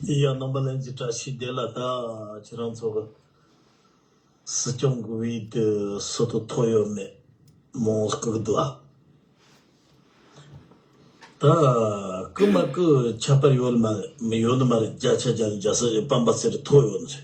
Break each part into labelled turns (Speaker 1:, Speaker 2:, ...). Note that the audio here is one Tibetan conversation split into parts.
Speaker 1: ཡི་ཡང་རྣམ་པ་ལན་གཅིག་བཀྲ་ཤིས་བདེ་ལ་དྭགས་ཁྱེད་རང་ཚོ་གི་སྲིད་སྐྱོང་གི་དབུས་དུ་སུ་དུ་ཐོག་ཡོད་མེད་མོང་བཀུག་འདུག་ཨ། ད་བཀུག་མ་བཀུག་ཁྱད་པར་ཡོད་ནི་མ་རེད་མི་ཡོད་ནི་མ་རེད་རྒྱ་ཆ་རྒྱ་ནི་རྒྱ་ས་ཞེས་སྤམ་པ་ཟེར་ཐོག་ཡོད་ནི་རེད།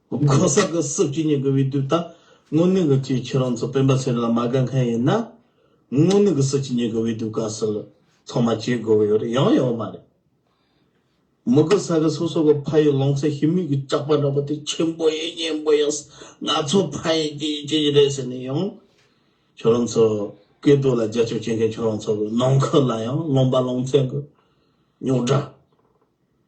Speaker 1: གོང་ས་ཀྱི་སྲིད་སྤྱི་གཉིས་ཀྱི་འོས་བསྡུ་དང་དངོས་གནས་ཀྱི་སྤྱིའི་ཁྱེད་རང་ཚོ་སྤེན་པ་ཚེ་རིང་ལ་མ་དགའ་མཁན་ཡིན་ན། དངོས་གནས་ཀྱི་སྲིད་སྤྱི་གཉིས་ཀྱི་འོས་བསྡུ་བཀའ་ཟུར་ཚང་མ་བྱེད་དགོས་ཀྱི་ཡོད་རེད་ཡང་ཡོད་མ་རེད། མི་གོང་ས་ཀྱི་སོ་སོ་གི་ཕ་ཡུལ་ལོང་ཚེ་ཤི་མིག་གི་སྐྲག་པ་འདྲ་པོ་དེ་ཆེན་པོ་ཡིན་སྙན་པོ་ཡིན་ང་ཚོ་ཕ་ཡི་རྒྱལ་ཡི་སྤྱི་ཡི་རེད་ཟེར་ནས་ཡང། ཁྱོད་རང་ཚོ་སྐད་སྡུག་ལ་རྒྱ་ཆོ་བྱེད་མཁན་ཁྱོད་རང་ཚོ་གི་ནང་ཁུལ་ལ་ཡང་ལོང་པ་ལོང་ཚན་གྱི་རྙོག་དྲ།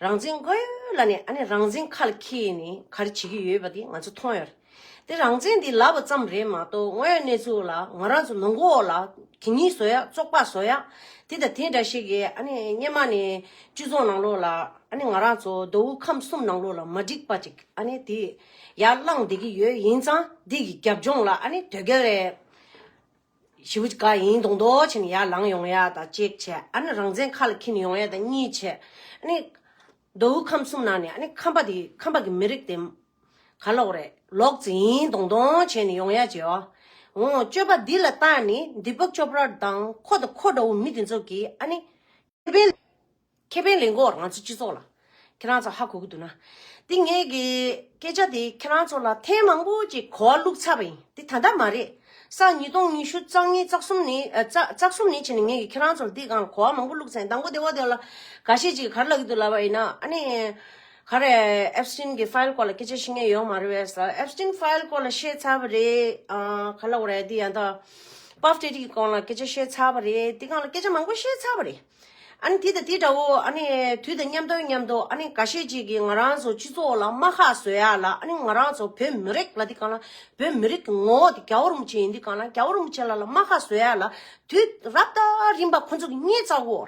Speaker 2: རང་བཙན་དགོས་ལ་ནི་ཨ་ནི་རང་བཙན་མཁའ་ལ་ཁྱི་ཡིས་ནི་ག་རེ་བྱེད་ཀྱི་ཡོད་པ་དེ་ང་ཚོ་མཐོང་ཡོད་རེད། དེ་རང་བཙན་འདི་ལབ་པ་ཙམ་རེད་མ་གཏོགས་དངོས་ཡོད་གནས་ཚུལ་ལ་ང་རང་ཚོ་ནང་འགོ་འོག་ལ་དེ་གཉིས་བཟོ་ཡག་བཙོག་པ་བཟོ་ཡག་དེ་དང་དེ་འདྲ་ཞིག་གིས་ཨ་ནི་སྙེ་མ་ནི་བཅུད་བཟོ་ནང་ལོགས་ལ་ཨ་ནི་ང་རང་ཚོ་མདོ་དབུས་ཁམས་གསུམ་ནང་ལོགས་ལ་མ་འགྲིག་པ་ཅིག་ཨ་ནི་དེ་ཡར་བསླངས་བསྡད་ཀྱི་ཡོད་ཡིན་ཙང་འདི་གི་རྒྱབ་ལྗོངས་ལ་ཨ་ནི་དོལ་རྒྱལ་རེད། བྱེད་པོ་ག་ཡིན་དང་མདོག་བྱས་ནས་ཡར་ལངས་ཡོང་ཡ་དང་གཅིག་བྱས་ཨ་ནི་རང་བཙན་ཁ་ལ་འཁྱིལ་ནས་ཡོང་ཡ་དང་གཉིས་བྱས་ཨ་ནི། མདོ་དབུས་ཁམས་གསུམ་ནང་ནས་ཨ་ནི་ཁམས་པ་དེ་ཁམས་པ་གི་མི་རིགས་དེ། ག་ལོག་རེད་ལོག་རྩིས་ཡིན་དང་མདོག་བྱས་ནས་ཡོང་ཡ་བྱས་ཨོ། སྤྱོད་པ་འདི་ལ་བརྟགས་ནས་འདི་པོག་ཅོ་པྲ་དང་ཁོ་དང་ཁོ་འདྲ་བོ་མི་དེ་ཚོ་གིས་ཨ་ནི། ཁེ་ཕན། ཁེ་ཕན་ལེན་གོ་རང་ཚོའི་སྤྱི་ཚོགས་ལ། ཁྱེད་རང་ཚོ་ཧ་གོ་གི་འདུག་ན། འདི་ངས་ཀྱི་སྐད་ཆ་དེ་ཁྱེད་རང་ཚོ་ལ་ཐེངས་མང་པོ་ཅིག་གོ་བ་བླུགས་ཚར་བ་ཡིན་འདི་ད་ལྟ་མ་རེད། སང་ཉིས་སྟོང་ཉི་ཤུ་རྩ་གཉིས་རྩ་གསུམ་ནི། རྩ་གསུམ་ནི་ཕྱིན་ནས་ངས་ཀྱི་ཁྱེད་རང་ཚོ་ལ་འདི་གང་ལ་གོ་བ་མང་པོ་བླུགས་ཚར་ཡིན་དང་པོ་དེ་བ་དེ་བ་ལ། ག་ཤེད་ཅིག་ག་རེ་ལབ་ཀྱི་འདུག་ལབ་པ་ཡིན་ན་ཨ་ནི། ག་རེ Epstein གྱི File སྐོར་ལ་སྐད་ཆ་ཤི་ངེས་ཡོད་མ་རེད་བས་ས Epstein File སྐོར་ལ་བཤད་ཚར་བ་རེད། ག་ལ་བ་རེད་འདི་ཡང་དག Puff Daddy གི་སྐོར་ལ་སྐད་ཆ་བཤད་ཚར་བ་རེད་འདི་གང་ལ་སྐད་ཆ་མང་པོ་བཤད་ཚར་བ་རེད། ཨ་ནི་དེ་དང་དེ་འདྲ་བོ་ཨ་ནི་དུས་དང་མཉམ་དང་མཉམ་དུ་ཨ་ནི་ག་ཤེད་ཅིག་གིས་ང་རང་ཚོ་སྤྱི་ཚོགས་ལ་རྨ་ཁ་བཟོས་ཡ་ལ་ཨ་ནི་ང་རང་ཚོ་བོད་མི་རིགས་ལ་དེ་གང་ལ་བོད་མི་རིགས་ཀྱི་ངོ་བོ་དེ་རྒྱ་བོར་མི་བྱེད་ཡིན་དེ་གང་ལ་རྒྱ་བོར་མི་བྱེད་ལ་ལ་རྨ་ཁ་བཟོས་ཡ་ལ་དུས་རབས་ད་རིམ་པ་ཁོ་ཚོ་གི་སྙད་བཙག་གོ།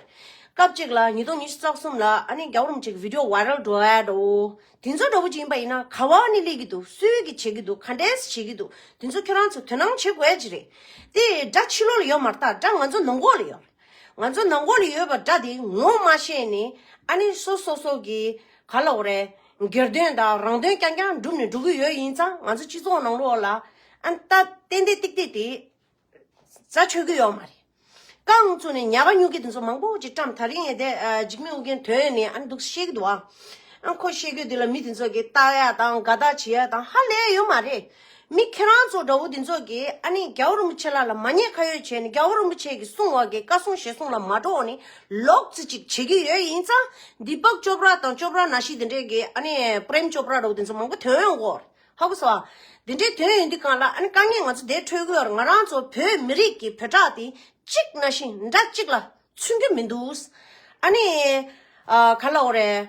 Speaker 2: སྐབས་ཅིག་ལ་ཉིས་སྟོང་ཉི་ཤུ་རྩ་གསུམ་ལ་ཨ་ནི་རྒྱ་བོར་མི་བྱེད་ཀྱི་བི་དྲོ་བྷའི་རལ་འགྲོ་ཡ་འདྲ་བོ། དེ་ཚོ་འདྲ་བོ་ཅིག་ཡིན་པ་ཡིན་ན་ག་བ་ཨ་ནི་ལས་ཀྱི་འདུག་སུས་ཀྱི་བྱེད་ཀྱི་འདུག་ག་འདྲས་བྱེད་ཀྱི་འདུག་དེ་ཚོ་ཁྱོད་རང་ཚོ་དོན་སྣང་བྱེད་དགོས་ཀྱི་རེད། དེ་སྒྲ་ཕྱི་ལོགས་ལ་ཡོད་མ་ཏག་སྒྲ་ང་ཚོ་ནང་གོ་ལ་ཡོད། ང་ཚོ་ནང་སྒོ་ལ་ཡོད་པ་འདྲ་དེ་ངོ་མ་ཤེས་ནས་ཨ་ནེ་སོ་སོ་སོ་གིས་ག་ལོག་རེད་སྒེར་དོན་དང་རང་དོན་རྐྱང་རྐྱང་སྒྲུབ་ནས་འགྲོ་གི་ཡོད་ཡིན་ཙང་ང་ཚོ་སྤྱི་ཚོགས་ནང་ལོག་ལ་ཨན་ལྟ་ཏན་ཏན་ཏིག་ཏིག་དེ་ཟ་ཆོད་ཀྱི་ཡོད་མ་རེད། རྐང་ཚུགས་ནས་ཉལ་པ་ཉུག་གི་དེ་ཚོ་མང་པོ་ཅིག་བཀྲམས་ཐག་རིང་ནས་བསྡད་འཇིགས་མེད་ཨུ་རྒྱན་དོན་ནི་ཨན་འདུག་བཤད་ཀྱི་འདུག་ཨང། ཨན་ཁོ་བཤད་རྒྱུ་དེ་ལ་མི་དེ་ཚོ་གིས་བལྟ་ཡག་དང་དགའ་དག་བྱེད་ཡག་དང་ཧ་ལས་ཡོད་མ་རེད། མི་ཁྱེད་རང་ཚོ་འདྲ་བོ་འདི་ཚོ་གིས་ཨ་ནི་རྒྱལ་བོ་རིན་པོ་ཆེ་ལགས་ལ་མ་ཉེས་ཁ་ཡོད་བྱས་ནས་རྒྱལ་བོ་རིན་པོ་ཆེ་གི་གསུང་བ་གི་བཀའ་སྲུང་ཞེ་སྲུང་ལ་མ་འགྲོ་བ་ནི་ལོག་རྩིས་ཅིག་བྱེད་ཀྱི་ཡོད་ཡིན་ཙང་འདི་དཔག་ཅོ་པྲ་དང་ཅོ་པྲ་ན་ཤི་དེ་འདྲས་གི་ཨ་ནི་པྲེམ་ཅོ་པྲ་འདྲ་བོ་དེ་ཚོ་མང་པོ་དོན་ཡོད་གོ་ཧ་གོ་སོ། དེ་འདྲས་དོན་ཡོད་འདི་གང་ལགས་ཨ་ནི་དཀའ་ངལ་ང་ཚོ་འདས་འཕྲོས་ཀྱི་བར་ང་རང་ཚོ་བོད་མི་རིགས་ཀྱི་བོད་གྲགས་དེ་གཅིག་ན་ཤི་འདྲ་གཅིག་ལ་ཚུན་གྱི་མི་འདུག་ཨ་ནི་ག་ལ་འོ་རེད།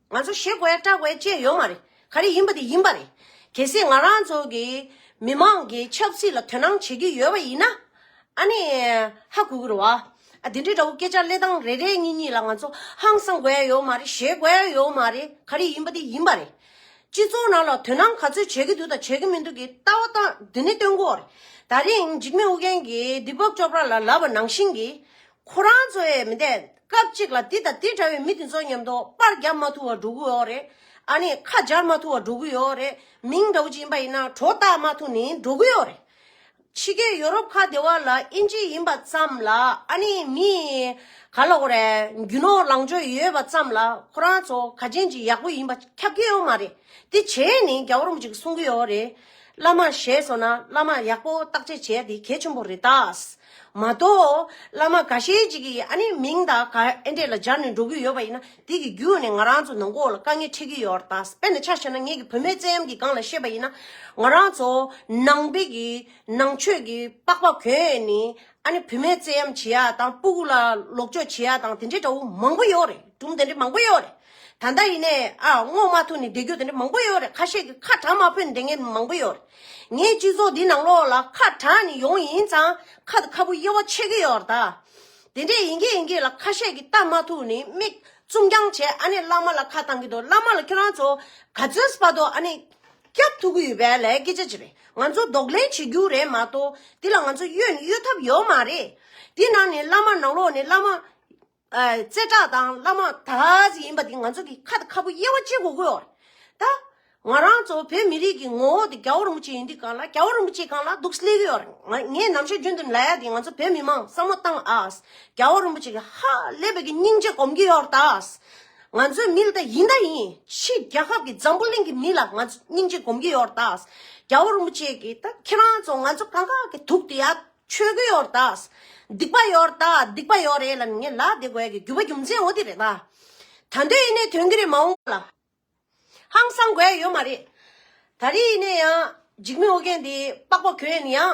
Speaker 2: ང་ཚོ་ཞེ་དགོས་སྐྲག་དགོས་བཅས་ཡོད་མ་རེད། ག་རེ་ཡིན་པ་དེ་ཡིན་པ་རེད། གལ་སྲིད་ང་རང་ཚོ་གི་མི་མང་གིས་ཆབ་སྲིད་ལ་དོན་སྣང་བྱེད་ཀྱི་ཡོད་པ་ཡིན་ན། ཨ་ནི། ཧ་གུ་གུ་རུ་བ། ཨ་དེ་འདྲའི་འདྲ་བོ་སྐད་ཆ་གླེད་སྟངས་རེ་རེ་གཉིས་གཉིས་ལ་ང་ཚོ་ཧང་སང་དགོས་ཡོད་མ་རེད་ཞེ་དགོས་ཡོད་མ་རེད་ག་རེ་ཡིན་པ་དེ་ཡིན་པ་རེད། སྤྱི་ཚོགས་ནང་ལ་དོན་སྣང་ག་ཚོད་བྱེད་ཀྱི་འདུག་དང་བྱེད་ཀྱི་མི་འདུག་གི་ལྟ་བ་སྟངས་འདི་ནི་སྟོན་གོ་རེད། ད་རིང་འཇིགས་མེད་ཨུ་རྒྱན་གྱིས་འདི་བབ་ཅོ་པྲ་ལ་ལབ་པ་ནང་བཞིན་གྱི། ཁོ་རང་ཚོས་མི་འདེད། སྐབས་གཅིག་ལ་དེ་དང་དེ་འདྲ་བའི་མི་དེ་ཚོ་ཉམས་རྟོགས་པར་བརྒྱབ་མ་ཐུབ་བ་འགྲོ་གི་ཡོད་རེད། ཨ་ནི་ཁ་སྦྱར་མ་ཐུབ་བ་འགྲོ་གི་ཡོད་རེད། མིང་འདྲ་བོ་ཅིག་ཡིན་པ་ཡིན་ན་གྲོ་བཏགས་མ་ཐུབ་ནི་འགྲོ་གི་ཡོད་རེད། ཕྱི་རྒྱལ་ཡོ་རོབ་ཁ་བདེ་བ་ལ་དབྱིན་ཇི་ཡིན་པ་ཙམ་ལ་ཨ་ནི་མི། ག་ལ་གོ་རེ། རྒྱུ་ནོར་ལངས་ཕྱོགས་ཡོད་པ་ཙམ་ལ་ཁོ་རང་ཚོ་ག་ཅན་གྱི་ཡག་པོ་ཡིན་པ་ཁྱབ་ཀྱི་ཡོད་མ་རེད། དེ་བྱས་ནི་རྒྱ་བོར་མོ་ཅིག་གསུང་གི་ཡོད་རེད། བླ་མར་ཞེས་སོགས་ན་བླ་མ་ཡག་པོ་བརྟག་དཔྱད་བྱེད་ཡ་དེ་གལ་ཆེན་པོ་རེད་ད། མ་གཏོགས། བླ་མ་ག་ཤེད་ཅིག་གིས་ཨ་ནི་མིང་དང་ག་ཨེ་འདྲེས་ལ་སྦྱར་ནས་འགྲོ་གི་ཡོད་པ་ཡིན་ན་དེ་གི་རྒྱུ་ནི་ང་རང་ཚོ་ནང་གོ་ལ་དཀའ་ངལ་འཕྲད་ཀྱི་ཡོད་ར་ད་དཔེ་ན་ཆ་བྱས་ན་ངེད་ཀྱི་བུ་མོའི་བཙན་གཡམ་གྱི་སྒང་ལ་ཤེས་པ་ཡིན་ན་ང་རང་ཚོ་ནང་པའི་གི་ནང་ཆོས་ཀྱི་པགས་པ་གོན་ནི་ཨ་ནི་བུད་མེད་བཙན་གཡེམ་བྱེད་ཡ་དང་སྤུ་གུ་ལ་ལོག་འཇོག་བྱེད་ཡ་དང་དེ་འདྲའི་དགྲ་བོ་མང་པོ་ཡོད་རེད་གྲུམ་དེ་འདྲའི་མང་པོ་ཡོད་རེད་ད་ལྟ་ཡིན་ནས་ཨ་བསྔོག་མ་ཐུབ་ནས་བསྡད་རྒྱུ་དེ་འདྲའི་མང་པོ་ཡོད་རེད་ཁ་ཤས་ཀྱི་ཁ་གྲགས་མ་ཕོད་ནས་བསྡད་མཁན་མང་པོ་ཡོད་རེད་ངའི་སྤྱི་ཚོགས་འདི་ནང་ལོགས་ལ་ཁ་གྲགས་ནས་ཡོང་ཡིན་ཙང་ཁ་དང་ཁ་སྤུ་དབྱེ་བ་ཕྱེ་གི་ཡོད་རེད་ད། དེ་འདྲས་ཡིན་གྱི་ཡིན་གྱི་ལ་ཁ་ཤས་ཀྱི་ལྟ་མ་ཐུབ་ནས་མིག་བཙུམ་རྐྱང་བྱས་ཨ་ནི་བླ་མ་ལ་ཁ་བཏང་གི་འདུག་བླ་མ་ལ་ཁྱོད་རང་ཚོ་ག་ཚོད་སྤ་འདུག་ཨ་ནི། སྐྱབས་ཐུག་གི་ཡོད་པའི་ལས་སྐད་ཆ་ཅི་རེད་ང་ཚོ་ལྡོག་ལེན་བྱེད་རྒྱུ་རེད་མ་གཏོགས་དེ་ལ་ང་ཚོ་གཡོལ་ནི་གཡོལ་ཐབས་ཡོད་མ་རེད། དེ་ནང་ནས་བླ་མ་ནང་ལོག་ནས་བླ་མ། རྩེ་གྲགས་དང་བླ་མ་དག་ཅིག་ཡིན་པ་དེ་ང་ཚོ་གི་ཁ་དང་ཁ་སྤུ་དབྱེ་བ་གཅིག་གོ་དགོས་རེད། ད། ང་རང་ཚོ་བོད་མི་རིགས་ཀྱི་ངོ་བོ་དེ་རྒྱ་བོ་རིན་པོ་ཆེ་ཡིན་དུས་གང་ལ་རྒྱ་བོ་རིན་པོ་ཆེ་གང་ལ་འདུག་སླེ་གི་ཡོད་རེད་ངས་ནམ་ཞིག་རྒྱུན་དུ་ལས་ཡ་དེ་ང་ཚོ་བོད་མི་མང་བསམ་བློ་བཏང་ཨཱས་རྒྱ་བོ་རིན་པོ་ཆེ་གི་ཧཧཧ་སླེ་བོད་ཀྱི་སྙིང་རྗེ་གོམས་ཀྱི་ཡོད་རེད་ཨཱས། ང་ཚོའི་མི་ལ་ད་ཡིན་ད་ཡིན་ཕྱིས་རྒྱ་ཁབ་ཀྱི་འཛམ་བུ་གླིང་གི་མི་ལ་ང་ཚོ་སྙིང་རྗེ་སྒོམ་གྱི་ཡོད་ད། རྒྱ་བོ་རིན་པོ་ཆེ་གིས་ད་ཁྱེད་རང་ཚོ་ང་ཚོ་གང་ག་གི་དུག་དེ་ཡ་ཆོད་གི་ཡོད་ད། སྡིག་པ་ཡོད་ད་སྡིག་པ་ཡོད་རེད་ལ་ནི་ངས་ལག་དེ་དགོས་གི་རྒྱུ་བ་རྒྱུ་མཚན་འོ་དེ་རེད་ད། ད་འདོད་ཡིན་ནའི་དོན་གྱི་རེད་མ་འོངས་ལ་ཧང་སང་དགོས་ཡོད་མ་རེད། ད་རེས་ཡིན་ནའི་ཡང་འཇིགས་མེད་ཨོ་རྒྱན་དེ་པགས་པ་གོན་ཡང།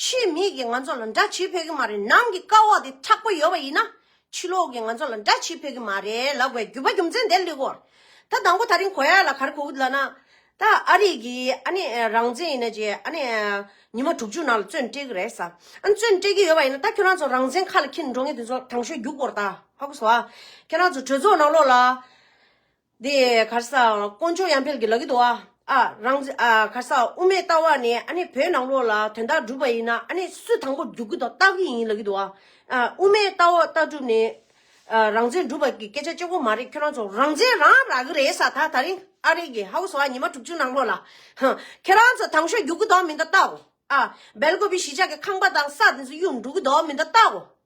Speaker 2: ཆེད་མེད་ཀྱི་ང་ཚོ་ལ་འདྲ་བྱེད་ཕོད་ཀྱི་མ་རེད་ནང་གི་དཀའ་བ་དེ་དྲག་པོ་ཡོད་པ་ཡིན་ན་ཕྱི་ལོག་གི་ང་ཚོ་ལ་འདྲ་བྱེད་ཕོད་ཀྱི་མ་རེད་ལབ་བའི་རྒྱུ་བ་རྒྱུ་མཚན་དེ་ལེགས་གོ་ད་དང་པོ་ད་རིང་གོ་ཡ་ལ་གར་གོ་གི་ལ་ན་ད་ཨ་རིག་གི་ཨ་ནི་རང་བཙན་ཡིན་ན་ཅི་ཨ་ནི་ཉི་མ་དྲུག་ཅུ་ནང་ལ་བཙོན་བཀྲེས་ཀྱི་རེད་ས་ཨ་ནི་བཙོན་བཀྲེས་ཀྱི་ཡོད་པ་ཡིན་ན་ད་ཁྱོད་རང་ཚོ་རང་བཙན་ཁ་ལ་འཁྱེར་ནས་འགྲོ་ངེས་དུས་ཚོད་དྲང་ཤོས་རྒྱུག་གོ་ར་ད་ཧ་གོ་སོང་ཨ་ཁྱོད་རང་ཚོ་གྲོས་ཚོགས་ནང་ལོགས་ལ་དེ་གར་ས་དཀོན་མཆོག་ཡང་འཕེལ་གྱི་ལག་གི་དུ་བ་ཨ་རང། གར་ས་དབུ་མའི་ལྟ་བ་ནི་ཨ་ནི་བོད་ནང་ལོགས་ལ་དོན་དག་སྒྲུབ་པ་ཡིན་ན་ཨ་ནི་སུ་དང་པོ་རྒྱུག་གི་དང་ལྟ་གི་ཡིན་ལག་གི་དུ་བ་ཨ། དབུ་མའི་ལྟ་བ་ལྟ་གྲུབ་ནི་རང་བཙན་སྒྲུབ་པ་གི་སྐད་ཆ་གཅིག་པོ་མ་རེད་ཁྱོད་རང་ཚོ་རང་བཙན་རང་རག་གི་རེད་ས་ད་ད་རིང་ཨ་རིག་གི་ཧའུ་ས་བ་ཉི་མ་དྲུག་ཅུ་ནང་ལོགས་ལ། ཁྱོད་རང་ཚོ་དང་ཤོ་རྒྱུག་གི་དང་མི་འདའ་ལྟའོ་ཨ། སྦེལ་ཀོབ་བི་ཞི་ཅག་གི་ཁང་པ་དང་ས་དེ་ཚོ་གཡུག་འགྲོ་གི་དང་མི་འདའ་ལྟའོ་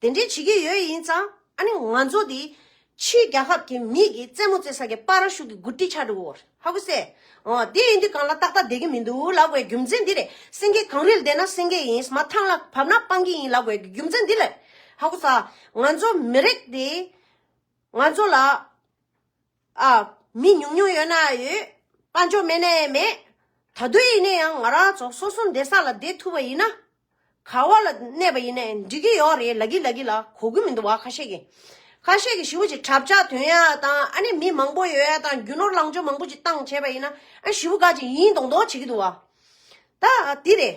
Speaker 2: དེ་འདྲའི་བྱེད་ཀྱི་ཡོད་ཡིན་ཙང་ཨ་ནི་ང་ཚོ་འདི་ཕྱིའི་རྒྱལ་ཁབ་ཀྱི་མིས་ཀྱི་རྩེད་མོ་རྩེ་ས་ཀྱི་པར་ར་ཤུག་གི་གུར་ཏི་ཆགས་འདུག་གོ་ཧ་གོ་སེ། འོ་དེ་ཡིན་དུས་གང་ལ་ཏག་ཏག་བསྡད་ཀྱི་མི་འདུག་ལབ་དགོས་རྒྱུ་མཚན་འདི་རེད་སེང་གེ་གངས་རིལ་བསྡད་ན་སེང་གེ་ཡིན་མ་ཐང་ལ་བབས་ན་སྤང་ཀི་ཡིན་ལབ་དགོས་ཀྱི་རྒྱུ་མཚན་འདི་རེད་ཧ་གོ་ས། ང་ཚོ་མི་རིགས་འདིས་ང་ཚོ་ལ། མི་ཉུང་ཉུང་ཡོད་ན་ཡོད། དཔའ་འཇོག་མེད་ན་མེད། ད་གདོད་ཡིན་ན་ཡང་ང་རང་ཚོ་སོ་སོ་འདས་ས་ལ་བསྡད་ཐུབ་པ་ཡིན་ན། ག་བ་ལ་གནས་པ་ཡིན་ན་འགྲིག་གི་ཡོད་རེད་ལ་གི་ལ་གི་ལ་གོ་གི་མི་འདུག་བ་ཁ་ཤས་ཀྱིས། ཁ་ཤས་ཀྱིས་ཞི་བ་ཅིག་གྲབས་ཆག་དོན་ཡག་དང་ཨ་ནི་མི་མང་པོ་ཡོད་ཡག་དང་རྒྱུ་ནོར་ལངས་ཕྱོགས་མང་པོ་ཅིག་བཏང་བྱས་པ་ཡིན་ན་ཨ་ཞི་བ་དགའ་ཅིག་ཡིན་མདོག་མདོག་བྱེད་ཀྱི་འདུག་བ། ད་དེ་རེད།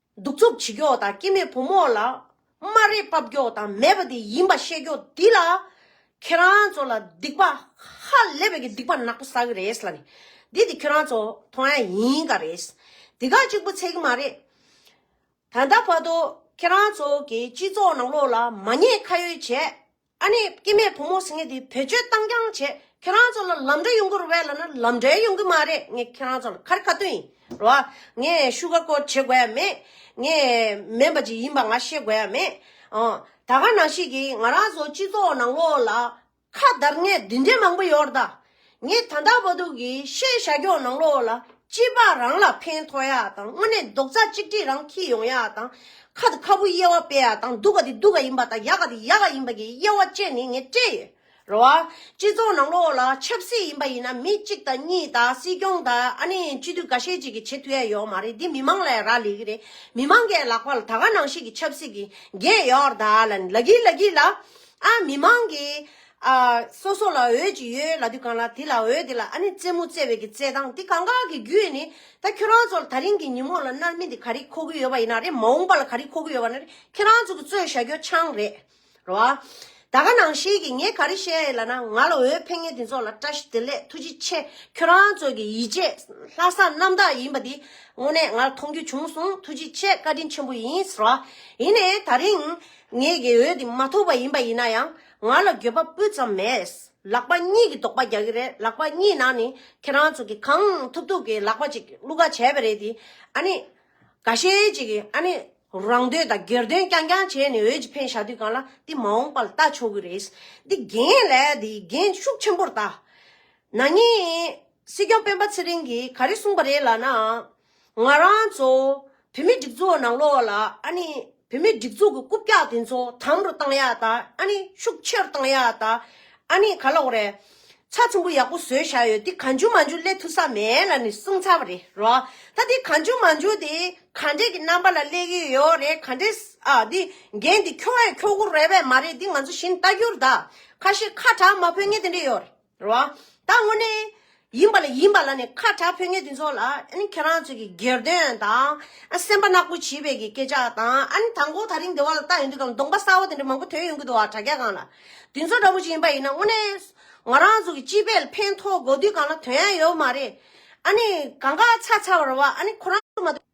Speaker 2: གདུག་རྩུབ་བྱེད་མགྱོགས་དང་སྐྱེ་མེད་བུ་མོ་ལ་སྨ་རས་ཕབ་མགྱོགས་དང་མེད་པ་དེ་ཡིན་པ་བཤད་མགྱོགས་འདི་ལ་ཁྱེད་རང་ཚོ་ལ་སྡིག་པ་ཧ་ལས་པའི་སྡིག་པ་ནག་པོ་བསགས་ཀྱི་རེད་ལ་ནི་འདི་དེ་ཁྱོད་རང་ཚོ་མཐོང་ཡ་ཡིན་ག་རེད་འདི་ག་གཅིག་པོ་ཚད་ཀྱི་མ་རེད། ད་ལྟ་བར་དུ་ཁྱེད་རང་ཚོ་གི་སྤྱི་ཚོགས་ནང་ལོགས་ལ་མ་ཉེས་ཁ་ཡོད་བྱས་ཨ་ནེ་སྐྱིད་མས་བུ་མོ་སིངྒེ་དེ་བེད་སྤྱོད་བཏང་རྐྱང་བྱས་ཁྱེད་རང་ཚོ་ལ་ལམ་འབྲས་ཡོང་གི་རོ་བས་ལ་ན་ལམ་འབྲས་ཡོང་གི་མ་རེད་ངས་ཁྱེད་རང་ཚོ་ལ་ཁ་རི་ཁ་ཏོན་ཡིན་རོ་ཨ་ངས་བཤུ་ག་ཀོ་བྱེད་དགོས་ཡ་མེད་ངས་མེན་པ་ཅིག་ཡིན་པ་ང་ཤེས་དགོས་ཡ་མེད་ཨོ་ད་ག་ནང་ཤེས་ཀྱི་ང་རང་ཚོ་སྤྱི་ཚོགས་ནང་ལོགས་ལ་ཁ་བརྡར་ངས་འདི་འདྲས་མང་པོ་ཡོར་ད། ངས་ད་ལྟ་བ་དུག་གི་ཤེས་བྱ་སྒྱོགས་ནང་ལོག་ལ་སྐྱིད་པ་རང་ལ་ཕན་ཐོགས་ཡག་དང་དངོས་གནས་རྡོག་རྩ་གཅིག་སྒྲིལ་རང་འཁྱིལ་ཡོང་ཡག་དང་ཁ་དང་ཁ་བུ་དབྱེ་བ་སྤེལ་ཡག་དང་སྡུག་ག་དེ་སྡུག་ག་ཡིན་པ་དང་ཡག་ག་དེ་ཡག་ག་ཡིན་པ་གི་དབྱེ་བ་བཅས་ནི་ངས་སྤྲད་ཡོད་རེད། སྤྱི་ཚོགས་ནང་ལོག་ལ་ཆབ་སྲིད་ཡིན་པ་ཡིན་ན་མི་གཅིག་དང་གཉིས་དང་སྲིད་སྐྱོང་དང་ཨ་ནི་སྤྱི་འཐུས་འགའ་ཤས་གཅིག་གིས་བྱེད་ཐུ་ཡ་ཡོག་མ་རེད་འདི་མི་མང་ལ་ཡང་རག་ལས་གི་རེད་མི་མང་གས་ལག་པ་ལ་ད་ག་ནང་བཤིག་གི་ཆབ་སྲིད་གི་འགན་ཡོག་ར་ད་ལ་ནི་ལ་གི་ལ་གི་ལ་ཨ་མི་མང་གིས། ཨ། སོ་སོ་ལ་འོད་ཅིག་ཡོད་ལ་དུས་གང་ལ་དེ་ལ་འོད་དེ་ལ་ཨ་ནི་རྩེད་མོ་རྩེ་བའི་གི་རྩེད་སྟངས་དེ་གང་གཱའི་གི་རྒྱུད་ནི་ད་ཁྱོད་རང་ཚོ་ལ་ད་རིང་གི་ཉིན་མོ་ལ་མནར་མེད་དེ་ག་རེ་མཁོ་གི་ཡོད་པ་ཡིན་ན་རེད་མ་འོངས་པ་ལ་ག་རེ་མཁོ་གི་ཡོད་པ་ན་རེད་ཁྱེད་རང་ཚོ་གི་རྩོད་བཞག་རྒྱོ་ཆང་རེད་རོ་ཨ། ད་ག་ནང་ཤེས་གི་ངས་ག་རེ་བཤད་ཡོད་ལ་ན་ང་ལ་འོད་ཕེབས་ངེས་དེ་ཚོ་ལ་བཀྲ་ཤིས་བདེ་ལེགས་ཐུགས་རྗེ་ཆེ་ཁྱོད་རང་ཚོ་གི་ཡིད་ཆེས་ལྷ་ས་རྣམ་དག་ཡིན་པ་དེ་དངོས་གནས་ང་ལ་མཐོང་རྒྱུ་བྱུང་སོང་ཐུགས་རྗེ་ཆེ་བཀའ་དྲིན་ཆེན་པོ་ཡིན་རོ་ཨ། ཡིན་ནས་ད་རིང་ངས་གི་འོད་དེ་མ་ཐོབ་པ་ཡིན་པ་ཡིན་ན་ཡང་ང་ལ་འགྱོད་པ་སྤུ་ཙམ་མེད། ལག་པ་གཉིས་ཀྱིས་རྡོག་པ་རྒྱག་གི་རེད་ལག་པ་གཉིས་ནང་ནས་ཁྱེད་རང་ཚོ་གིས་གང་ཐུབ་ཐུབ་ཀྱིས་ལག་པ་ཅིག་གླུ་ག་བྱས་པ་རེད་དེ། ཨ་ནི། ག་ཤེད་ཅིག་གིས་ཨ་ནི། རང་འདོད་དང་སྒེར་དོན་རྐྱང་རྐྱང་བྱས་ནས་འོད་ཀྱི་འཕེན་བཞག་དུས་གང་ལ་འདི་མ་འོངས་པ་ལ་ལྟ་ཆོག་གི་རེད། འདི་རྒན་ལས་འདི་རྒན་ཤུགས་ཆེན་པོར་ལྟ། ན་ནིང། སྲིད་སྐྱོང་སྤེན་པ་ཚེ་རིང་གིས་ག་རེ་གསུངས་པ་རེད་ལགས་ན། ང་རང་ཚོ་བུད་མེད་སྒྲིག་འཛུགས་ནང་ལོགས་ལ་ཨ་ནི་བུད་མེད་སྒྲིག་འཛུགས་ཀྱི་རྐུབ་བཀྱག་དེ་ཚོ་དམ་རུ་གཏང་ཡག་ད་ཨ་ནི་ཤུགས་ཆེ་རུ་གཏང་ཡག་ད་ཨ་ནི་ག་ལོག་རེད། ཚ་ཚོམ་བུ་ཡག་པོ་བཟོས་བཞག་ཡོད་དེ་ག་འཇུ་མ་འཇུ་སླེ་ཐུ་ས་མེད་ལ་ནི་གསུང་ཚར་བ་རེད་རོ། ད་དེ་ག་འཇུ་མ་འཇུ་དེ་ག་འདྲེ་གི་རྣམ་པ་ལ་སླེ་གི་ཡོད་རེད་ག་འདྲེ་ཨ་དེ་རྒན་དེ་ཁྱོ་བས་ཁྱོ་གུ་རེད་བས་མ་རེད་དེ་ང་ཚོ་བཞིན་ལྟ་རྒྱུར་ད་ཁ་ཤས་ཁ་གྲགས་མ་ཕོད་ངེས་དེ་འདྲེ་ཡོད་རེད། རེད་བ། ད་དངོས་གནས་ཡིན་པ་ལ་ཡིན་པ་ལ་ནི་ཁ་གྲགས་ཕོད་ངན་དེ་ཚོ་ལ་ཨ་ནི་ཁྱེད་རང་ཚོས་ཀྱི་སྒེར་དོན་དང་ཨ་སེམས་པ་ནག་པོ་བྱིས་པའི་ཀྱི་སྐད་ཆ་དང་ཨ་ནི་ད་མགོ་ད་རིང་དེ་བ་ལ་བལྟ་ཡོང་དུས་ཀའང་གདོང་པ་སྲ་བོ་དེ་འདྲ་མང་པོ་དོན་ཡོང་གི་འདུག་བ་དྲ་རྒྱ་གང་ལ་དེ་ཚོ་འདྲ་པོ་ཞིག་ཡིན་པ་ཡིན་ན་དངོས་གནས་ང་རང་ཚོ་ཀྱི་སྤྱི་པའི་ཕན་ཐོག་འགོ་དུས་གང་ལ་དོན་ཡང་ཡོད་མ་རེད་ཨ་ནི་གང་ག་ཚ་ཚ་བར་བ་ཨ་ནི་ཁོ་རང་ཚོ་མ་གཏོགས།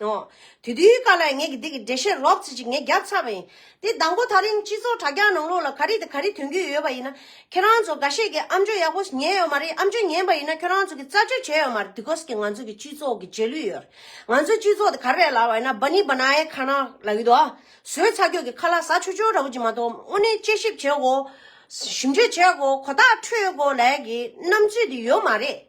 Speaker 2: ཨོ། དེ་དུས་ཀ་ལས་ངེད་ཀྱིས་འདི་གི་འགྲེལ་བཤད་རོབ་ཙི་ཅིག་ངས་རྒྱབ་ཚར་བ་ཡིན། དེ་ལྡང་པོ་ད་རིང་སྤྱི་ཚོགས་དྲ་རྒྱ་ནང་ལོགས་ལ་ག་རེ་དང་ག་རེ་དོན་རྒྱུས་ཡོད་པ་ཡིན་ན། ཁྱེད་རང་ཚོ་འགའ་ཤས་ཀྱིས་ཨམ་ཆོས་ཡག་པོ་ཉན་ཡོད་མ་རེད་ཨམ་ཆོས་ཉན་པ་ཡིན་ན་ཁྱོད་རང་ཚོ་གིས་རྩ་གཅོད་བྱས་ཡོད་མ་རེད་དུས་གོ་ས་ཀྱི་ང་ཚོ་གི་སྤྱི་ཚོགས་ཀྱི་རྗེས་ལུས་ཡོད་རེད། ང་ཚོ་སྤྱི་ཚོགས་དེ་ག་རེ་རེད་ལབ་བ་ཡིན་ན Bani Banaye Khana ལབ་ཡོད་དོ། བཟོས་ཚར་ཁྱོད་ཀྱིས་ཁ་ལག་ཟ་ཆོ་ཆོ་འདྲ་བོ་ཅིག་མ་གཏོགས་དངོས་གནས་དཔྱད་ཞིབ་བྱས་གོ། ཞིབ་འཇུག་བྱས་གོ་གོ་ཐག་ཆོད་གོ་ལས་ཀྱི་རྣམ་དཔྱོད་དེ་ཡོད་མ་རེད།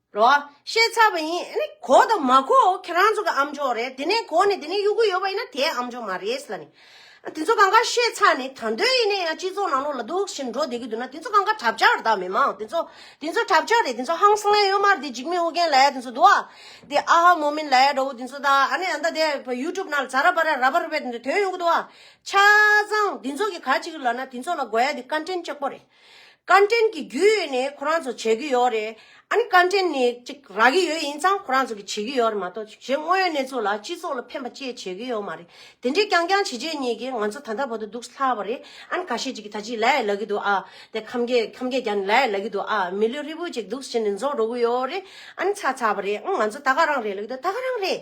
Speaker 2: རོ། བཤད་ཚར་བ་ཡིན། ཨ་ནི། གོ་དང་མ་གོ་ཁྱེད་རང་ཚོ་གི་ཨམ་ཆོག་རེད། དེ་ནས་གོ་ནས་དེ་ནས་གཡུག་གི་ཡོད་པ་ཡིན་ན་དེ་ཨམ་ཆོག་མ་རེད་ལ་ནི། དེ་ཚོ་གང་ག་བཤད་ཚར་ནི་ད་འདོད་ཡིན་ནས་ཡང་སྤྱི་ཚོགས་ནང་ལོགས་ལ་སྡུག་བཞིན་འགྲོ་བསྡད་ཀྱི་འདུག་ན་དེ་ཚོ་གང་ག་གྲབས་ཆག་རེད་ད་མི་མང་དེ་ཚོ། དེ་ཚོ་གྲབས་ཆག་རེད་དེ་ཚོ་ཧང་སངས་ཨེ་ཡོད་མར་དེ་འཇིགས་མེད་ཨོ་རྒྱན་ལ་ཡ་དེ་ཚོ་འདུག་ཨ། དེ་ཨ་ཧ་མོ་མིན་ལ་ཡ་འདྲ་བོ་དེ་ཚོ་ད་ཨ་ནི་ཨ་མདའ་དེ YouTube ནང་ལ་ཛ་ར་པ་ར་ར་བ་ར་བའི་དོན་ཡོང་གི་འདུག་ཨ། ཆ་ཚང་དེ་ཚོ་གི་ག་ཅིག་ལ་ན་དེ་ཚོ་ལ་དགོས་ཡ་དེ་ཀ་འདྲེན་ལྕགས་པོ་རེད། བཀའ་དྲིན་གྱི་རྒྱུས་ནི་ཁོ་རང་ཚོ་བྱེད་ཀྱི་ཡོད་རེད། ཨ་ནི་བཀའ་དྲིན་ནི་གཅིག་རག་གི་ཡོད་ཡིན་ཙང་ཁོ་རང་ཚོ་གི་བྱེད་ཀྱི་ཡོད་རེད་མ་གཏོགས་གཞན་དངོས་ཡོད་གནས་ཚུལ་ལ་སྤྱི་ཚོགས་ལ་ཕན་པ་བཅས་བྱེད་ཀྱི་ཡོད་མ་རེད། དེ་འདྲའི་རྐྱང་རྐྱང་བྱེད་བྱེད་གཉིས་ཀྱིས་ང་ཚོ་ད་ལྟ་བར་དུ་སྡུག་སླ་བ་རེད། ཨ་ནི་ག་ཤེད་ཅིག་གིས་ད་ཅི་ལ་ཡ་ལ་གི་འདུག་ཨ། དེ་ཁམ་གས་ཁམ་གས་ཀྱང་ནི་ལ་ཡ་ལ་གི་འདུག་ཨ། མི་ལུས་ཧྲིལ་པོ་ཅིག་སྡུག་བྱེད་ནི་འཛོག་འགྲོ་གི་ཡོད་རེད། ཨ་ནི་ཚ་ཚ་བ་རེད། ཨང་ང་ཚོ་ད་ག་རང་རེད་ལ་གི་འདུག་ད་ག་རང་རེད།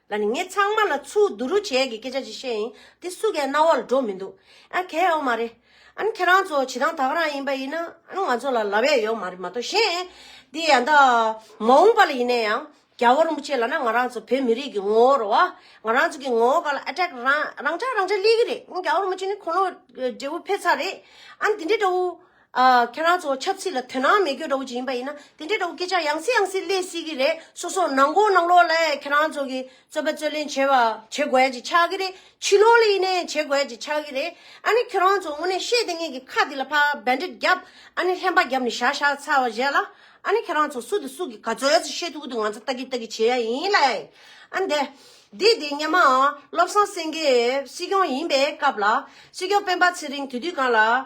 Speaker 2: ལ་ནི་ངས་ཚང་མ་ལ་ཚུར་བསྡུ་རུ་བྱས་ཀྱི་སྐད་ཆ་ཅིག་བཤད་ཡིན་དེ་སུ་གའི་རྣ་བ་ལ་འགྲོ་མི་འདུག་ཨ་གལ་ཡོག་མ་རེད་ཨ་ཁྱེད་རང་ཚོ་བྱེད་སྟངས་དག་རང་ཡིན་པ་ཡིན་ན་ཨ་ང་ཚོ་ལ་ལ་བས་ཡོག་མ་རེད་མ་གཏོགས་གཞན་དེ་ཡང་ད་མ་འོངས་པ་ལ་ཡིན་ན་ཡང་རྒྱལ་བོ་རིན་པོ་ཆེ་ལ་ན་ང་རང་ཚོ་བོད་མི་རིགས་ཀྱི་ངོ་བོར་བ་ང་རང་ཚོ་གི་ངོ་བོ་ག་ལ attack རང་རང་འཇགས་རང་འཇགས་སླེ་གི་རེད་རྒྱལ་བོ་རིན་པོ་ཆེ་ནི་ཁོང་ལོ་འབྲས་བུ་འཕེལ་ཚར་རེད་ཨ་འདི་འདྲའི་འདྲ་བོ། ཨ། ཁྱེད་རང་ཚོ་ཆབ་སྲིད་ལ་དོན་སྣང་མེད་ཁྱོད་འདྲ་བོ་ཅིག་ཡིན་པ་ཡིན་ན་དེ་འདྲའི་འདྲ་བོ་སྐད་ཆ་ཡང་སྲིད་ཡང་སྲིད་གླེང་སྲིད་ཀྱི་རེད་སོ་སོ་ནང་དགོང་ནང་ལོག་ལ་ཁྱེད་རང་ཚོ་གི་རྩོད་པ་རྩོད་ལེན་བྱེད་པ་བྱེད་དགོས་ཀྱི་ཆགས་ཀྱི་རེད་ཕྱི་ལོག་ལ་ཡིན་ནའི་བྱེད་དགོས་ཀྱི་ཆགས་ཀྱི་རེད་ཨ་ནི་ཁྱེད་རང་ཚོ་དངོས་གནས་ཤེས་ལྡན་ངན་གྱི་ཁ་དེ་ལ་ཕར་བེད་འགྲེད་རྒྱབ་ཨ་ནི་ལྷན་པ་རྒྱབ་ནས་བཞག་བཞག་ཚར་བ་བཞེས་ལ་ཨ་ནི་ཁྱེད་རང་ཚོ་སུ་དེ་སུ་གི་ག་ཚོད་ཚོད་ཤེས་ཐུག་གི་འདུག་ང་ཚོ་ལྟ་གི་ལྟ་གི་བྱེད་ཡ་ཡིན་ལ་ཨ་ནི་དེ་འདི་དེ་སྙམ་ཨ་བློ་བཟང་སེང་གེ་སྲིད་སྐྱོང་ཡིན་པའི་སྐབས་ལ་སྲིད་སྐྱོང་སྤེན་པ་ཚེ་རིང་དེ་དུས་གང་ལ།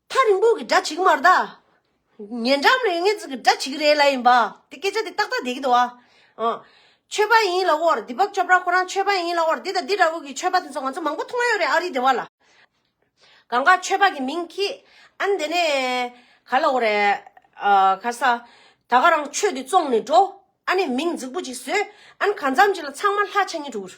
Speaker 2: ཐག་རིང་པོ་གི་སྒྲ་ཇི་གི་མར་ད། ཉེ་འགྲམ་རེ་ངེ་འཛིན་གི་སྒྲ་ཇི་གི་རེ་ལ་ཡིན་པ། དེ་སྐད་ཆ་དེ་ཏག་ཏག་དེ་སྐད་དུ་བ། ཆོས་པ་ཡིན་ལ་བོར་དེ་བབ་ཅོ་པྲ་ཁོ་རང་ཆོས་པ་ཡིན་ལ་བོར་དེ་དང་དེ་འདྲ་བོ་གི་ཆོས་པ་དེ་ཚོ་ང་ཚོ་མང་པོ་མཐོང་ཡོད་རེད་ཨ་རི་དེ་བ་ལ། གང་ག་ཆོས་པ་གི་མིང་གི་ཨན་དེ་ནས་ག་ལ་བོ་རེད། ག་ས། ད་ག་རང་ཆོས་དེ་བཙོང་ནས་འགྲོ། ཨ་ནས་མིང་རྫིག་པོ་ཅིག་བཟོས། ཨན་ག་འཚམ་ཅིག་ལ་ཚང་མ་ལྷ་ཆ་གཉིས་དྲུག།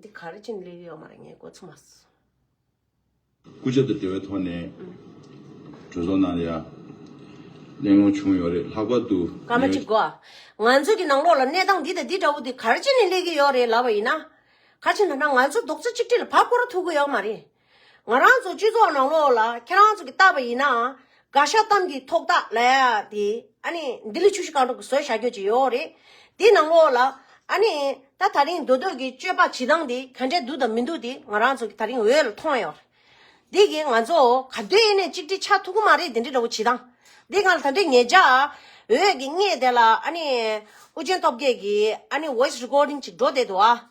Speaker 2: འདི་ག་རེ་ཅིན་ལེ་ཡོད་མ་རེད་ངས་གོ་ཚོད་མ་སོང།
Speaker 3: སྐུ་ཞབས་དང་འབྲེལ་བའི་ཐོག་ནས་གྲོས་ཚོགས་ནང་ལ་གླེང་སློང་བྱུང་ཡོད་རེད་ལྷག་པར་དུ་སྐར་མ་གཅིག་གོ།
Speaker 2: ང་ཚོ་གི་ནང་ལོགས་ལ་གནས་སྟངས་འདི་དང་འདི་འདྲ་བོ་འདི་ག་རེ་ཅིན་ནས་གླེགས་ཀྱི་ཡོད་རེད་ལབ་པ་ཡིན་ན། ག་ཅིན་ཐ་ན་ང་ཚོ་རྡོག་རྩ་གཅིག་སྒྲིལ་ལ་བབ་འགོ་རུ་ཐུག་གི་ཡོད་མ་རེད། ང་རང་ཚོ་སྤྱི་ཚོགས་ནང་ལོགས་ལ་ཁྱེད་རང་ཚོ་གི་བལྟ་བ་ཡིན་ན་དགའ་ཤ་གཏམ་གྱི་ཐོག་ཐག་ལ་ཡ་དེ་ཨ་ནི་ལྡི་ལི་ཆུ་བཞི་སྒང་དྲུག་གི་བཟོས་བྱ་རྒྱུ་ཅིག་ཡོད་རེད་དེའི་ནང་ལོགས་ལ་ཨ་ནི་ད་ད་རིང་འདོད་འདོད་ཀྱི་སྤྱོད་པ་བྱེད་སྟངས་དེ་ག་འདྲའི་སྡུག་དང་མི་སྡུག་དེ་ང་རང་ཚོ་གི་ད་རིང་འོད་ལ་མཐོང་ཡོད་རེད་དེ་གིས་ང་ཚོ་ག་དུས་ཨེ་ནས་གཅིག་སྒྲིལ་ཆགས་ཐུབ་ཀྱི་མ་རེད་དེ་འདྲའི་འདྲ་བོ་བྱེད་སྟངས་དེ་ང་ལ་ད་འདྲའི་ངེད་ཅག་འོད་ཀྱི་སྔས་དེ་ལ་ཨ་ནི་ཨུ་རྒྱན་སྟོབས་རྒྱལ་གྱི་ཨ་ནི voice recording ཅིག་འགྲོ་བསྡད་འདུག་ཨ།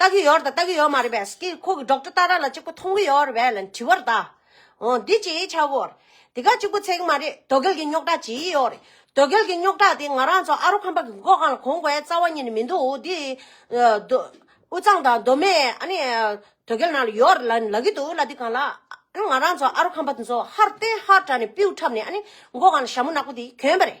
Speaker 2: ལྟ་གི་ཡོད་རེད་དང་ལྟ་གི་ཡོད་མ་རེད་པས་སྐད་ཁོ་གི་སྒྲོག་འགྲོས་ལྟར་ར་ལ་གཅིག་པོ་མཐོང་གི་ཡོད་རེད་པས་ལ་དྲི་བར་གདའ། འོ་འདི་ཅི་ཡིས་ཆགས་གོ། དེ་ག་གཅིག་པོ་ཚད་གི་མ་རེད་དོ་གལ་གྱི་རྙོག་དྲ་ཇི་ཡིས་ཡོད་རེད་དོ་གལ་གྱི་རྙོག་དྲ་དེ་ང་རང་ཚོ་ཨ་རོ་ཁམས་པ་གི་མགོ་གང་ལ་གོང་བའི་རྩ་བ་ཉིད་ནས་མི་འདུག་འདི། དོ། དབུས་གཙང་དང་མདོ་སྨད་ཨ་ནི། དོ་གལ་ནང་ལ་ཡོད་རེད་ལ་ནི་ལབ་ཀྱི་འདུག་ལ་འདི་གང་ལ། ཨ་ནི་ང་རང་ཚོ་ཨ་རོ་ཁམས་པ་དེ་ཚོ་ཧར་བརྟན་ཧར་དྲག་ནས་པིའུ་འཁྲབ་ནས་ཨ་ནི་མགོ་གང་ལ་ཞྭ་མོ་ནག་པོ་དེ་གྱོན་པ་རེད།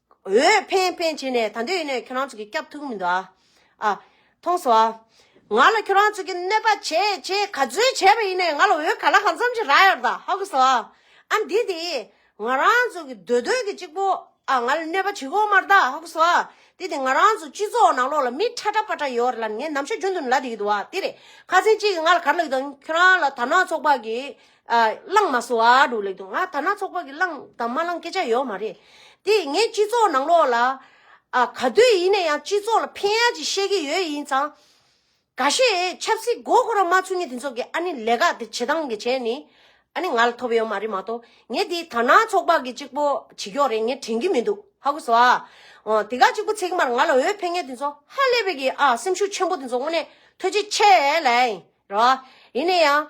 Speaker 2: འོས་འཕེན་འཕེན་བྱས་ནས་ད་འདོད་ཡིན་ནའི་ཁྱོད་རང་ཚོ་གི་སྐྱབས་ཐུག་མི་འདུག་ཨ། ཨ། ཐོངས་སོ་ཨ། ང་ལ་ཁྱོད་རང་ཚོ་གི་གནོད་པ་བྱས་བྱས་ག་ཚོད་བྱས་པ་ཡིན་ནའི་ང་ལ་འོས་ག་ལ་གང་འཚམ་ཞིག་རག་ཡོད་ད་ཧ་གོ་སོ་ཨ། ཨ་འདི་དེ། ང་རང་ཚོ་གི་འདོད་འདོད་གི་གཅིག་པོ་ཨ་ང་ལ་གནོད་པ་བྱེད་གོ་མར་ད་ཧ་གོ་སོ་ཨ། དེ་དེ་ང་རང་ཚོ་སྤྱི་ཚོགས་ནང་ལོགས་ལ་མི་ཁྲ་ཁྲ་པ་ཁྲ་ཡོད་རེད་ལ་ངས་ནམ་ཞར་རྒྱུན་དུ་ལ་དེ་གི་འདུག་ཨ་དེ་རེད་ཁ་ཚན་གཅིག་གི་ང་ལ་ག་རེ་ལ་ཡོད་དང་ཁྱོད་རང་ལ་དར་ནག་ཚོགས་པ་གི་བླངས་མ་སོང་ཨ་འགྲོ་ལེགས་འདུག་ང་ཐ་ན་ཚོགས་པ་གི་བླངས་དང་མ་བླངས་སྐད་ཆ་ཡོད་མ་རེད། དེ་ངས་སྤྱི་ཚོགས་ནང་ལོགས་ལ། ག་དུས་ཡིན་ན་ཡང་སྤྱི་ཚོགས་ལ་ཕན་ཡག་ཅིག་བཤད་ཀྱི་ཡོད་ཡིན་ཙང། ག་ཤེད་ཆབ་སྲིད་མགོ་འཁོར་ར་མ་ཚུགས་ངས་དེ་ཚོ་གི་ཨ་ནི་ལས་ཀ་དེ་བྱེད་སྟངས་གི་བྱས་ནི། ཨ་ནི་ང་ལ་ཐོབ་ཡོད་མ་རེད་མ་གཏོགས་ངས་དེ་ཐ་ན་ཚོགས་པ་གི་གཅིག་པོ་བྱེད་ཀྱོག་རེད་ངས་དྲན་གྱི་མི་འདུག་ཧ་གོ་སོ་ཨ། འོ་དེ་ག་གཅིག་པོ་ཚེག་མར་ང་ལ་འོས་འཕེན་མཁན་དེ་ཚོ་ཧ་ལས་པའི་གི་ཨ་སེམས་ཤུགས་ཆེན་པོ་དེ་ཚོ་དངོས་གནས་ཐོད་ཅིག་ཆད་ལེ། རེད་བ། ཡིན་ན་ཡང།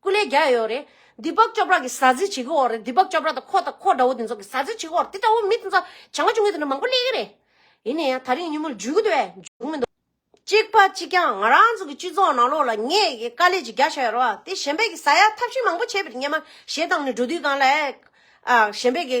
Speaker 2: སྐུ་ལས་རྒྱལ་ཡོད་རེད། དེ་པག་ཅོ་པྲ་གི་ཟ་ཟི་བྱེད་ཀྱི་འོག་རེད་དེ་པག་ཅོ་པྲ་དང་ཁོ་དང་ཁོ་འདྲ་བོ་དེ་ཚོ་གི་ཟ་ཟི་བྱེད་ཀྱི་འོག་རེད་དེ་འདྲ་བོ་མི་དེ་ཚོ་བྱ་དགའ་བྱུང་ཡོད་དེ་འདྲ་མང་པོ་གླེང་གི་རེད། ཡིན་ནའི་ཡང་ད་རིང་ཉིན་མོ་འཇུས་གི་འདུག་བས་འཇུག་མི་འདུག། གཅིག་པ་གཅིག་རྐྱང་ང་རང་ཚོ་གི་སྤྱི་ཚོགས་ནང་ལོགས་ལ་ངས་གི་དཀའ་ལས་ཀྱི་རྒྱ་བྱ་ཡོད་རེད་བ་དེ་གཞན་པས་གི་ཟ་ཡག་ཐབས་ཤེས་མང་པོ་བྱས་པའི་གཉེན་མ་ཞེ་སྡང་ནི་འགྲོ་དུས་གང་ལ་ཨ། གཞན་པས་གི་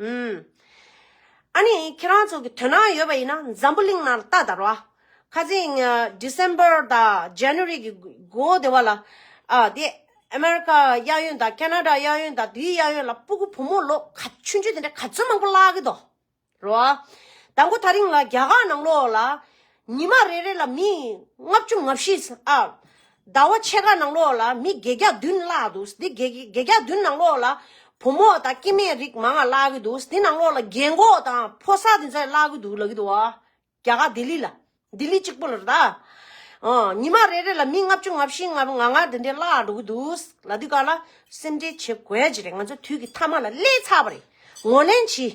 Speaker 2: ཨུམ། ཨ་ནི་ཁྱེད་རང་ཚོ་གི་དོན་སྣང་ཡོད་པ་ཡིན་ན་འཛམ་བུ་གླིང་ནང་ལ་ལྟ་དར་བ། ཁ་ཅིག December དང January གི་འགོ་དེ་བ་ལ། དེ America གཡག་ཡོན་དང Canada གཡག་ཡོན་དང་དེའི་གཡག་ཡོན་ལ་སྤུ་གུ་བུ་མོ་ལོ་ག་ཆུན་ཆུན་དེ་འདྲ་ག་ཚོད་མང་པོ་བརླག་གི་འདུག་རོ། དང་པོ་ད་རིང་ལ་རྒྱ་གར་ནང་ལོགས་ལ། ཉི་མ་རེ་རེ་ལ་མི་ལྔ་བཅུ་ང་བཞི་ཨ། ཟླ་བ་ཕྱེད་ཀ་ནང་ལོགས་ལ་མི་བརྒྱད་བརྒྱ་བདུན་བརླག་འདུག་འདི་བརྒྱད་བརྒྱ་བདུན་ནང་ལོགས་ལ། བུ་མོ་དང་སྐྱེས་དམན་རིགས་མང་ང་བརླག་གི་འདུག་འདི་ནང་ལོགས་ལ་རྒན་གོག་དང་ཕོ་སར་དེ་ཚ་བརླག་གི་འདུག་ལབ་གི་འདུག་ཨ། རྒྱ་གར་ལྡི་ལི་ལ། ལྡི་ལི་གཅིག་པོ་ལ་རེ་ད། ཨ། ཉི་མ་རེ་རེ་ལ་མི་ལྔ་བཅུ་ང་བཞི་ང་ང་ང་དེ་འདྲས་བརླག་འགྲོ་གི་འདུག་ལ་འདི་ག་ལ་སེམས་ཁྲལ་བྱེད་དགོས་ཀྱི་རེད་ང་ཚོ་དུས་ཀྱི་མཐའ་མ་ལ་སླེབས་ཚར་བ་རེད་ངོ་ལེན་གྱིས།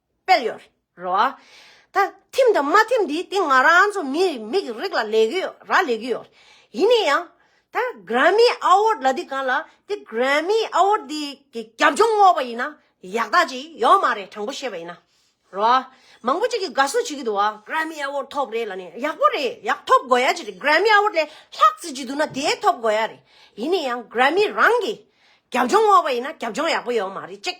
Speaker 2: སྤེལ་ཡོད་རེད་བ། ད་ཐིམ་དང་མ་ཐིམ་དེ་དེ་ང་རང་ཚོ་མི་མིག་རིག་ལ་ལས་གི་ཡོད་ར་ལས་གི་ཡོད་རེད། ཡིན་ནས་ཡང་ད Grammy Award ལ་དེ་གང་ལ་དེ Grammy Award དེ་གི་རྒྱབ་ལྗོངས་བསྔོགས་པ་ཡིན་ན་ཡག་ད་ཅིག་ཡོད་མ་རེད་དྲང་པོ་བཤད་པ་ཡིན་ན་རེད་བ། མང་པོ་གཅིག་གི་དགའ་བསུ་བྱེད་གི་འདུག་བ Grammy Award ཐོབ་རེད་ལ་ནི་ཡག་པོ་རེད་ཡག་ཐོབ་དགོས་ཡ་ཅིག་རེད Grammy Award ལས་ལྷག་བརྩི་བྱེད་འདུག་ན་དེ་ཐོབ་དགོས་ཡ་རེད། ཡིན་ནས་ཡང Grammy རང་གི་རྒྱབ་ལྗོངས་བསྔོགས་པ་ཡིན་ན་རྒྱབ་ལྗོངས་ཡག་པོ་ཡོད་མ་རེད་ཅིག།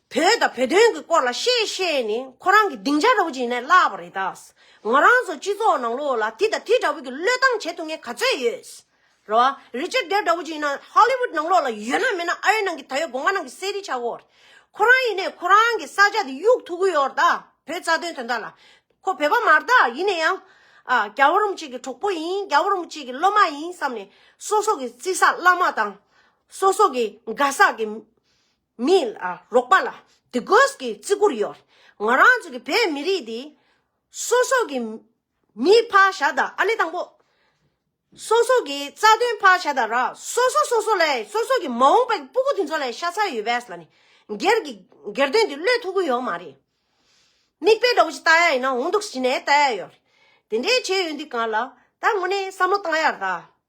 Speaker 2: བོད་དང་བོད་དོན་གྱི་སྐོར་ལ་བཤད་བཤད་ནས་ཁོ་རང་གི་སྡིངས་ཆ་འགྲོ་གི་ཡིན་ནས་བརླགས་པ་རེད་ད། ང་རང་ཚོ་སྤྱི་ཚོགས་ནང་ལོགས་ལ་དེ་དང་དེ་འདྲ་བོ་གི་བློས་བཏང་བྱེད་ཐུབ་མཁན་ག་ཚོད་ཡོད། རེད་བ། Richard Gere འདྲ་བོ་ཅིག་ཡིན་ན Hollywood ནང་ལོགས་ལ་ཡོད་ན་མེད་ན་ཨ་རི་ནང་གི་ད་ཡོད་དགོང་ཀ་ནང་གི་གསེར་རི་ཆག་གོ་རེད། ཁོ་རང་ཡིན་ནས་ཁོ་རང་གི་ས་ཆ་དེ་གཡུག་ཐུབ་གི་ཡོད་རེད་ད་བོད་རྩ་དོན་དོན་དག་ལ། ཁོ་བོད་པ་མ་རེད་ད་ཡིན་ནས་ཡང། ཨ། རྒྱ་བོ་རུམ་གཅིག་གི་གྲོགས་པོ་ཡིན་རྒྱ་བོ་རུམ་གཅིག་གི་སློབ་མ་ཡིན་བསམ་ནས་སོ་སོ་གི་བརྩི་ས་བླ་མ་དང། སོ་སོ་གི་དགའ་ས་གི། མིའི་རོགས་པ་ལ་དེ་དགོས་ཀྱི་བརྩི་བཀུར་ཡོད། ང་རང་ཚོ་གི་བོད་མི་རིགས་འདི། སོ་སོ་གི་མི་ཕ་ཞག་དང་ཨ་ནེ་དང་པོ། སོ་སོ་གི་རྩ་དོན་ཕ་ཞག་དང་ར་སོ་སོ་སོ་སོ་ལ་སོ་སོ་གི་མ་འོངས་པའི་སྤུ་གུ་དེ་ཚོ་ལ་ཤ་ཚ་ཡོད་པས་ལ་ནི། སྒེར་གྱི་སྒེར་དོན་འདི་བློས་ཐུག་གི་ཡོད་མ་རེད། མིག་དཔེ་འདྲ་བོ་ཞིག་བལྟ་ཡ་ཡིན་ན་འོང་འདུག་ཟེར་ནས་བལྟ་ཡ་ཡོད། དེ་འདྲའི་བྱས་ཡོད་འདི་གང་ལ་ད་དངོས་གནས་བསམ་བློ་བཏང་ཡར་ད།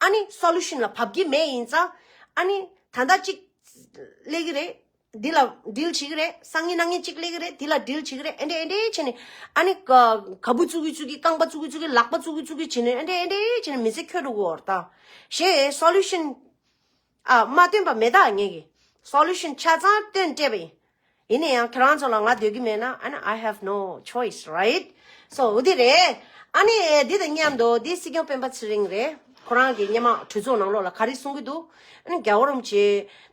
Speaker 2: ཨཱ་ནི། Solution། ལ་བབ་ཀྱི་མེད་ཡིན་ཙང། ཨཱ་ནི། ད་ལྟ་གཅིག། སླེ་གི་རེད། འདི་ལ Drill བྱེད་ཀྱི་རེད། སང་ཉིན་གནངས་ཉིན་གཅིག་སླེ་གི་རེད་དེ་ལ Drill བྱེད་ཀྱི་རེད་ཨེ་འདྲས་ཨེ་འདྲས་བྱས་ནས། ཨཱ་ནི། ག་བུ་བཙུགས་ཀྱི་བཙུགས་ཀྱི་རྐང་པ་བཙུགས་ཀྱི་བཙུགས་ཀྱི་ལག་པ་བཙུགས་ཀྱི་བཙུགས་ཀྱི་བྱས་ནས་ཨེ་འདྲས་ཨེ་འདྲས་བྱས་ནས་མི་ཚེ་ཁྱོད་དུ་འོར་ད། ཞེས། Solution། ཨ་མ་སྟོན་པ་མེད་ད་ངེད་ཀྱིས Solution ཆ་ཚང་སྟོན་སྤྲད་པ་ཡིན། ཡིན་ན་ཡང་ཁྱེད་རང་ཚོ་ལ་ང་སྡོད་ཀྱི་མེད་ན་ཨ་ན I have no choice right so འོ་དེ་རེད། ཨ་ནི་འདི་དང་མཉམ་དུ་དེ་སྲིད་སྐྱོང་སྤེན་པ་ཚེ་རིང་རེད་ཁོ་རང་གི་སྙེ་མ་གྲོས་ཚོགས་ནང་ལོགས་ལ་ག་རེ་གསུང་གི་འདུག་ཨ་ནི་རྒྱ་བོ་རོམ་གྱི་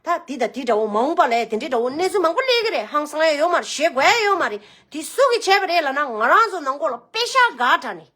Speaker 2: ད་དེ་དང་དེ་འདྲ་བོ་མང་པ་ལས་དེ་འདྲའི་འདྲ་བོ་གནས་ཚུལ་མང་པོ་གླེགས་ཀྱི་རེད་ཧང་སང་ཡ་ཡོད་མ་རེད་བཞེད་དགོས་ཡ་ཡོད་མ་རེད་དེ་སུ་གིས་བྱས་པ་རེད་ལ་ན་ང་རང་ཚོ་ནང་སྐོར་ལ་དཔེ་ཤག་འགའ་དྲ་ནས།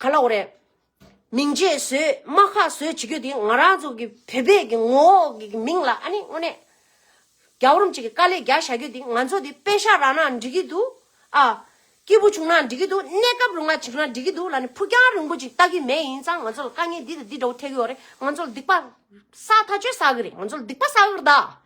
Speaker 2: ག་ལ་འོ་རེད། མིང་རྗེས་བཟོས་དམག་ཁ་བཟོས་བྱེད་རྒྱུ་དེ་ང་རང་ཚོ་གི་བོད་པའི་གི་ངོ་བོ་གི་མིང་ལ་ཨ་ནི་དངོས་གནས། རྒྱ་བོར་མཆིས་གི་དཀའ་ལས་རྒྱག་བྱ་རྒྱུ་དེ་ང་ཚོ་དེ་དཔེ་ཤག་རག་ན་འགྲིག་གི་འདུག་ཨ། སྐྱིད་པོ་བྱུང་ན་འགྲིག་གི་འདུག་གནས་སྐབས་རུང་བ་བྱུང་ན་འགྲིག་གི་འདུག་ལ་ནི་ཕུགས་རྒྱང་རིང་པོ་ཅིག་བལྟ་གི་མེད་ཡིན་ཙང་ང་ཚོ་ལ་དཀའ་ངལ་འདི་དང་འདི་འདྲ་བོ་འཕྲད་གི་འོ་རེད་ང་ཚོ་ལ་སྡིག་པ་བསགས་ཐག་ཆོད་བསགས་གི་རེད་ང་ཚོ་ལ་སྡིག་པ་བསགས་གི་རེད་ད།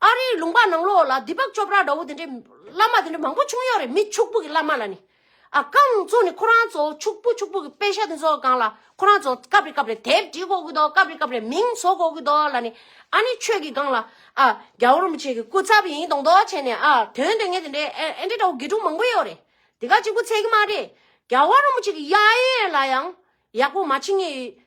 Speaker 2: ཨ་རིའི་ལུང་པ་ནང་ལོགས་ལ་སྡིག་པགས་ཅོ་པྲ་འདྲ་བོ་དེ་འདྲའི་བླ་མ་དེ་འདྲ་མང་པོ་བྱུང་ཡོད་རེད་མི་ཕྱུག་པོ་གི་བླ་མ་ལ་ནི། ཨ་རྐང་ཚོ་ནི་ཁོ་རང་ཚོ་ཕྱུག་པོ་ཕྱུག་པོ་གི་དཔེ་ཆ་དེ་ཚོ་སྒང་ལ་ཁོ་རང་ཚོ་སྐབས་རེ་སྐབས་རེ་དེབ་བྲིས་གོ་གི་འདུག་སྐབས་རེ་སྐབས་རེ་མིང་བཟོ་གོ་གི་འདུག་ལ་ནི། ཨ་ནི་ཆོས་ཀྱི་སྒང་ལ་ཨ་རྒྱ་བོ་རིན་པོ་ཆེ་གི་སྐུ་ཚབ་ཡིན་མདོག་མདོག་བྱས་ནས་ཨ་དོན་དོན་ངན་དེ་འདྲའི་ཨེ་འདྲ་འདྲ་བོ་དགེ་ཕྲུག་མང་པོ་ཡོད་རེད་དེ་ག་གཅིག་པུ་ཚད་ཀྱི་མ་རེད་རྒྱ་བོ་རིན་པོ་ཆེ་གི་དབྱངས་ཡིག་ལ་ཡང་ཡག་པོ་མ་ཕྱིན་ངེས་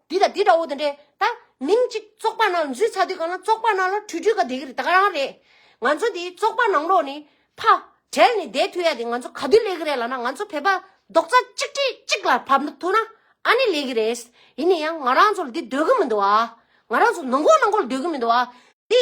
Speaker 2: འདི་དང་འདི་འདྲ་བོ་དེ་འདྲས་ད་མིང་གཅིག་བཙོག་པ་ནང་འཛུལ་ཚར་དུས་གང་ན་བཙོག་པ་ནང་ལ་ཁྲུས་ཁྲུས་ག་བསྡད་ཀྱི་རེད་ད་ག་རང་རེད། ང་ཚོ་དེ་བཙོག་པ་ནང་ལོགས་ནས་ཕ་བྲལ་ནས་བསྡད་ཐུ་ཡ་དེ་ང་ཚོ་ག་དུས་ལས་ཀྱི་རེད་ལ་ན་ང་ཚོ་བོད་པ་རྡོག་རྩ་གཅིག་སྒྲིལ་གཅིག་ལ་བབ་ན་ཐུ་ན་ཨ་ནི་ལས་ཀྱི་རེད། ཡིན་ན་ཡང་ང་རང་ཚོ་ལ་དེ་འདོད་ཀྱི་མི་འདུག་ང་རང་ཚོ་ནང་མགོ་ནང་མགོ་ལ་འདོད་ཀྱི་མི་འདུག་དེ།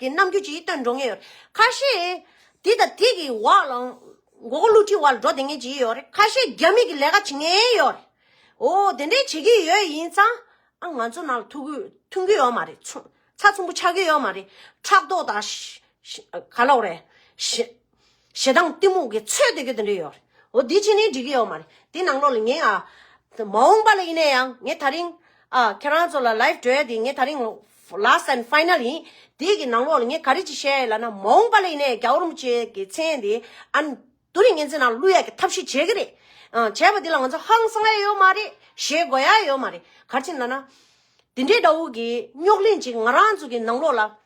Speaker 2: དེ་རྣམས་རྒྱུད་ཅིག་སྟོན་འགྲོ་ངེས་ཡོད་རེད། ཁ་ཤས། དེ་དང་དེ་གི་བར་ལ། མགོ་སྐོར་བསླུ་བྲིད་བར་ལ་འགྲོ་བདེ་ངེས་ཅིག་ཡོད་རེད། ཁ་ཤས་རྒྱ་མིག་གི་ལས་ཀ་བྱེད་ངེས་ཡོད་རེད། འོ། དེ་འདྲའི་བྱེད་ཀྱི་ཡོད་ཡིན་ཙང། ཨ་ང་ཚོ་ནང་ལ་ཐུག་གི་ཐུན་གྱི་ཡོད་མ་རེད། ཚ་ཚོམ་བུ་ཆགས་ཀྱི་ཡོད་མ་རེད། ཕྲག་དོག་དང། ག་ལོག་རེད། ཞེ་སྡང་གཏི་མུག་གི་ཚོད་དེ་གི་དེ་འདྲས་ཡོད་རེད། འོ་དེ་ཕྱི་ནས་འགྲིག་གི་ཡོད་མ་རེད། དེ་ནང་ལོགས་ལ་ངས་ཨ། མ་འོངས་པ་ལ་ཡིན་ན་ཡང་ངས་ད་རིང་ཨ། ཁྱེད་རང་ཚོ་ལ live བྲོས་ཡ་དེ་ངས་ད་རིང། last and final ཡིན། དེ་གི་ནང་ལོགས་ལ་ངས་ག་རེ་ཅིག་བཤད་ཡ་ལ་ན་མ་འོངས་པ་ལ་ཡིན་ན་ཡང་རྒྱ་འོར་མོ་ཅེས་གི་མཚན་དེ་ཨ། དུ་རིང་ངེ་འཛིན་ནང་བླུག་ཡ་གི་ཐབས་ཤེས་བྱེད་གི་རེད། ཨ། བྱས་པ་དེ་ལ་ང་ཚོ་ཧང་སང་ཡ་ཡོད་མ་རེད། ཞེད་དགོ་ཡ་ཡོད་མ་རེད། གར་ཕྱིན་ལ་ན། དེ་འདྲས་འདྲ་བོ་གི་རྙོག་གླེང་ཅིག་ང་རང་ཚོ་གི་ནང་ལོགས་ལ།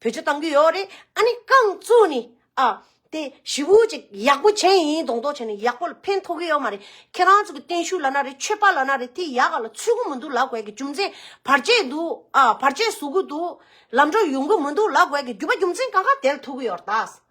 Speaker 2: བོད་ཆས་གཏང་གི་ཡོད་རེད་ཨ་ནི་རྐང་བཙུགས་ནི་ཨ། དེ་ཞི་བུ་ཅིག་ཡག་པོ་བྱས་ཡིན་གདོང་མདོག་བྱས་ནི་ཡག་པོ་ལ་ཕན་ཐོགས་ཀྱི་ཡོད་མ་རེད་ཁྱེད་རང་ཚོ་གི་བརྟན་བཞུགས་ལ་ན་རེ་ཆོས་པ་ལ་ན་རེ་དེ་ཡག་ག་ལ་ཚུད་གི་མི་འདུག་ལ་དགོས་ཀྱི་རྒྱུ་མཚན་བར་ཆད་འདུག་ཨ་བར་ཆད་བཟོ་གི་འདུག་ལམ་འགྲོ་ཡོང་གི་མི་འདུག་ལ་དགོས་ཀྱི་རྒྱུ་བ་རྒྱུ་མཚན་གང་ག་དེ་ལ་ཐུག་གི་ཡོད་རེད་ད།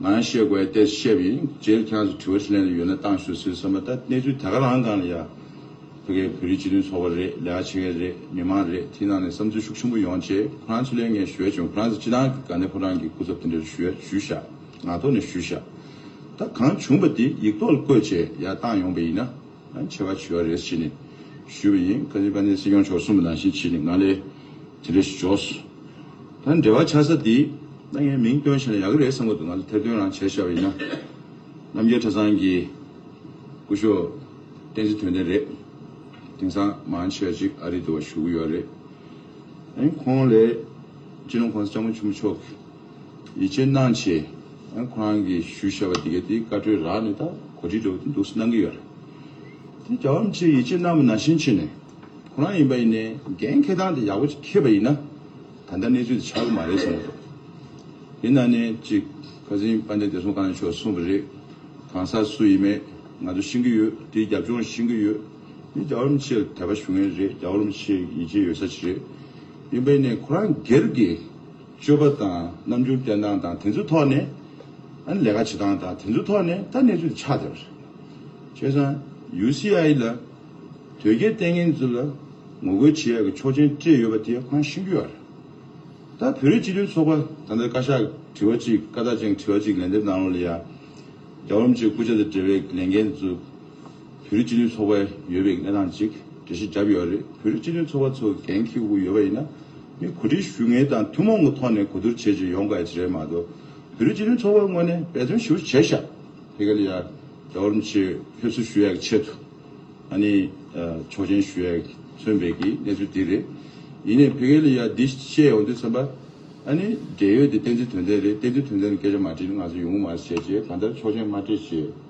Speaker 3: ང་རང་ཤེས་དགོས་ཡ་ལྟས་སུ་བཤད་པ་ཡིན། རྗེས་སུ་ཁྱེད་རང་ཚོ་དྲི་བ་ཞིག་ལན་དུ་ཡོད་ན་བཏང་ཞུ་ཟེར་བསམ་པ་ད་གནས་ཚུལ་ད་ག་རང་གང་ལ་ཡ། ཕ་གའི་བོད་རིགས་སྤྱི་མཐུན་ཚོགས་པ་རེད་ལས་ཀ་བྱེད་མཁན་རེད་མི་མང་རེད་དེའི་ནང་ནས་བསམ་ཚུལ་ཤུགས་ཆེན་པོ་ཡོང་རྗེས་ཁོ་རང་ཚོ་ལས་ངས་ཞུ་ཡ་བྱུང་ཁོ་རང་ཚོ་སྤྱི་བཏང་གི་དགའ་ནས་ཕོ་བྲང་གི་སྐུ་ཚབ་དེ་འདྲ་རུ་ཞུ་ཡ་ཞུས་བཞག་ངག་ཐོག་ནས་ཞུས་བཞག་ད་གང་བྱུང་པ་དེ་ཡིག་ཐོག་ལ་བཀོད་རྗེས་ཡ་བཏང་ཡོང་པ་ཡིན་ན། ཆེ་བ་བྱུས་བ་རེད་ཅེས་ནས་ཞུས་པ་ཡིན། ཁ་ཅིག་ཀ་ནས་སྲིད་སྐྱོང་མཆོག་གསུངས་པ་ནང་བཞིན་བྱས་ནས་ང་ལས་དེ་རེ་ཞུ་ཆོག། ད་འབྲེལ་བ་ཆགས་ས་འདི་ད་ངས་མིང་བཏོན་བྱས་ན་ཡག་གི་རེད་བསམ་གི་འདུག་ང་ལ་ཐེར་འདོན་རང་བྱས་ཤག་བས་ཡིན་ན། རྣམ་རྒྱལ་ཁྲ་ཚང་གི་སྐུ་ཞོགས་བསྟན་འཛིན་དོན་ལྡན་རེད། དེང་སང་མང་ཆེ་བ་ཅིག་ཨ་རི་དུ་བ་ཞུ་གི་ཡོད་རེད། ཁོང་ལས་སྤྱི་ནོར་ཁོང་ས་སྐྱ་མོ་ཆུ་མོ་མཆོག་གི། ཡིད་ཆེས་གནང་ཆེད་ཁོ་རང་གིས་ཞུས་བྱས་པ་དེ་གའི་དེའི་བཀའ་འཁྲོལ་རག་ནས་ད་གོ་སྒྲིག་འགྲོ་གི་འདུག་གསུངས་གནང་གི་ཡོད་རེད། དེ་རྒྱལ་བ་རིན་ཆེན་ཡིད་ཆེས་གནང་བ་ནང་བཞིན་བྱས་ནས་ཁོ་རང་ཡིན་པ་ཡིན་ནས་འགན་འཁེལ་སྟངས་དེ་ཡག་པོ་ཅིག་འཁེལ་བ་ཡིན་ན་ད་ལྟ་གནས་ཚུལ་དེ་ཆགས་གི་མ་རེད་བསམ་གྱི་འདུག་དེ་ནང་ནས་ཅིག་ཁ་ཟིན་དཔལ་ལྡན་བདེ་སྲུང་བཀའ་བློན་མཆོག་གསུངས་པ་རེད། གང་ཟག་སུ་ཡིན་མེད་ང་ཚོ་ཤེས་ཀྱི་ཡོད་དེའི་རྒྱབ་ལྗོངས་ཤེས་ཀྱི་ཡོད། དེ་རྒྱལ་བ་རིན་ཆེན་ལ་དད་པ་ཞུ་མཁན་རེད་རྒྱལ་བ་རིན་ཆེན་ཡིད་ཆེས་ཡོད་ས་ཅིག་རེད། ཡིན་པ་ཡིན་ནས་ཁོ་རང་སྒེར་གྱི། སྤྱོད་པ་དང་རྣམ་འགྱུར་བསྟན་སྟངས་དང་དེ་ཚོའི་ཐོག་ནས། ཨ་ལས་ཀ་བྱེད་སྟངས་དང་དེ་ཚོའི་ཐོག་ནས་ད་གནས་ཚུལ་དེ་ཆགས་བསྡད་པ་རེད། བྱས་ཙང UCI ལ་དོལ་རྒྱལ་བསྟེན་མཁན་ཚོ་ལ་ངོ་རྒོལ་བྱེད་ཡག་གི་ཆོག་མཆན་སྤྲད་ཡོད་པ་དེ་ཧང་ཤིང་རྒྱུ་ཡག་རེད། ད་བོད་རིགས་སྤྱི་མཐུན་ཚོགས་པ་ད་ལྟ་བཀའ་ཤག་གི་དྲི་བ་གཅིག་བཀའ་རྟགས་ཅན་གྱི་དྲི་བ་གཅིག་ལན་འདེབས་གནང་རོགས་ལ་ཡ། རྒྱ་འོམ་ཅིག་སྐུ་ཕྱྭ་དང་འབྲེལ་བའི་ལས་འགན་དེ་ཚོ། བོད་རིགས་སྤྱི་མཐུན་ཚོགས་པའི་ཡོད་པའི་གནས་སྟངས་གཅིག་འགྲེལ་བཤད་བརྒྱབ་ཡོད་རེད། བོད་རིགས་སྤྱི་མཐུན་ཚོགས་པ་ཚོ་གན་ཁེའུ་གུ་ཡོད་པ་ཡིན་ན། མི་གོ་སྒྲིག་ཞུ་ངེས་དང་ཐུན་མོང་གི་ཐོག་ནས་གོ་བསྡུར་བྱེད་ཅིག་ཡོང་ག་ཅིག་རེད་མ་གཏོགས། བོད་རིགས་སྤྱི་མཐུན་ཚོགས་པ་དངོས་ནས་འབད་བརྩོན་ཞུ་བྱས་ཤག་དེ་ག་ལ་ཡ། རྒྱ་གོར་མི་ཆེ་ཕེབས་བསུ་ཞུ་ཡག་ཆེད་དུ། ཨ་ནི། ཆོག་མཆན་ཞུ་ཡག་མཚོན་འབད་ཀྱི་གནས་ཚུལ་དེ་རེད། ཡིན་ནས་བོད་ག་ལ་ཡ་འདི་བཤད་ཡོང་དུས་སེམས་པ། ཨ་ནི། འབྲེལ་ཡོད་དེ་བསྟན་འཛིན་དོན་ལྡན་རེད་བསྟན་འཛིན་དོན་ལྡན་ལ་སྐད་ཆ་མ་དྲིས་ན་ང་ཚོ་ཡོང་གི་མ་རེད་བཤད་རྗེས་གང་ལྟར་ཆོག་མཆན་མ་སྤྲད་རྗེས།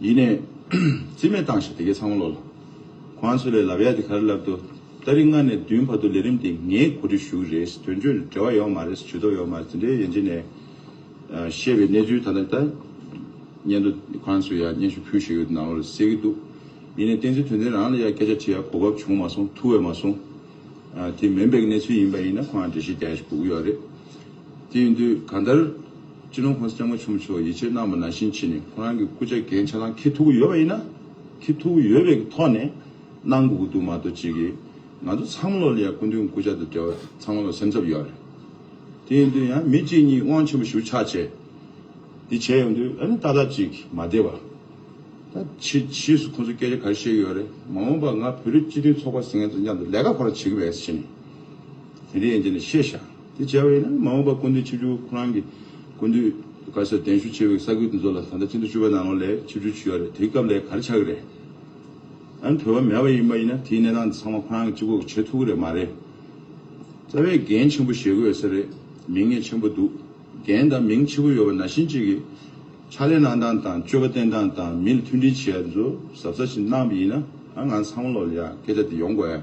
Speaker 3: ཡིན་ནས། རྩིས་མེད་བཏང་ཞིག་དེ་གས་ཚང་མ་ལོག་ལ། ཁོང་ཚོས་ལས་ལབ་ཡ་དེ་གར་ལབ་འདུག་ད་རིག་ལྔ་ནས་བདུན་བར་དུ་ལས་རིམ་དེ་ངས་གོ་སྒྲིག་ཞུ་གི་རེད་དོན་གཅོད་འབྲེལ་བ་ཡོག་མ་རེད་ཇུས་གཏོགས་ཡོག་མ་རེད་དེ་འདྲའི་ཡན་ཆད་ནས་བཤད་པའི་གནས་ཚུལ་ད་ལྟ་ད་སྙན་དུ་ཁོང་ཚོས་ཡ་སྙན་ཞུ་ཕུལ་ཞིག་ཡོད་དུ་ནང་ལོག་ལ་གསལ་གི་འདུག་ཡིན་ནས་བསྟན་འཛིན་དོན་ལྡན་རང་ལ་ཡ་སྐད་ཆ་དྲི་ཡ་གོ་བབ་བྱུང་མ་སོང་ཐུ་བས་མ་སོང། དེ་མེན་པའི་གནས་ཚུལ་ཡིན་པ་ཡིན་ན་ཁོང་ལ་འདྲི་ཞིག་རྒྱ་ཡ་ཞིག་གོ་གི་ཡོག་རེད། དེ་ཡིན་དུས་གང་ལྟར། ཅི་ནུས་ཁོང་སེམས་མ་ཆུང་མཆོག་ཡིད་ཆེས་གནང་བ་ནང་བཞིན་བྱས་ནས་ཁོང་རང་གི་སྐུ་ཕྱྭ་གན་ཆ་ལང་ཁེ་ཐུག་གི་ཡོད་པ་ཡིན་ན། ཁེ་ཐུག་གི་ཡོད་པའི་གི་ཐོག་ནས་གནང་དགོས་ཀྱི་འདུག་མ་གཏོགས་ཅི་གི། ང་ཚོ་ཚང་མ་ལོ་ལེགས་སྐུ་མདུན་སྐུ་ཕྱྭ་དང་འབྲེལ་བ་ཚང་མ་ལ་སེམས་འཚབ་ཡོད་རེད། དེ་ཡིན་དུས་ཡང་མི་གཅིག་གཉིས་དབང་ཆེན་པོ་ཞུ་ཕྱྭ་བྱས། འདི་བྱས་ཡོང་དུས་ཨ་ནི་ཏག་ཏག་ཅིག་མ་བདེ་བ། ད་ཕྱིས་ཕྱིས་སུ་ཁོང་ཚོ་སྐད་ཆ་ག་རེ་བཤད་ཀྱི་ཡོད་རེད་མ་འོངས་པ་ང་བོད་རིགས་སྤྱི་མཐུན་ཚོགས་པ་ཟེར་མཁན་ཚོ་མཉམ་དུ་ལས་ཀ་ག་རེ་བྱེད་ཀྱི་རེད་ཟེར་ནས། མི་རིགས་ཡན་ཆད་ནས་ཤེས་བྱ་དེ་བྱ་བས་ན་མ་འོངས་པར་ཀུན་འདུས་ཆིབས་བཅུ་ཁོ་རང་གི་ཀུན་འདུས་དཀར་ཟལ་གདན་ཞུ་བྱེད་པའི་ས་ཁུལ་དེ་ཚོ་ལ་ད་ལྟ་ཆིན་ཐོ་བཅུ་པ་ནང་ལོ་ལེགས་ཆིབས་བཅུ་བྱུས་ཡོད་རེད་དེའི་སྐབས་ལས་ག་རེ་ཆགས་ཀྱི་རེད། ཨ་བོད་པ་མེད་པ་ཡིན་པ་ཡིན་ན་དེའི་གནས་སྟངས་འདི་ཚང་མ་ཁོ་རང་གི་སྤྱི་ཁོག་གི་བྱེད་ཐུབ་ཀྱི་རེད་མ་རེད། རྩ་བའི་རྒན་ཆེན་པོ་ཞེས་དགོས་ཡོད་ས་རེད་མིང་ངས་ཆེན་པོ་འདུག་རྒན་དང་མིང་ཆེ་པོ་ཡོད་པ་ན་གཞི་གཅིག་གི་ཕྱག་ལས་གནང་སྟངས་དང་སྤྱོད་པ་བསྟེན་སྟངས་དང་མི་ལ་མཐུན་སྒྲིལ་བྱེད་ཡ་དེ་ཚོ་གཟབ་གཟབ་ཞིག་གནང་པ་ཡིན་ན་ང་ཚང་མ་ལོ་ལེགས་ཡ་སྐད་ཆ་དེ་ཡོང་དགོས།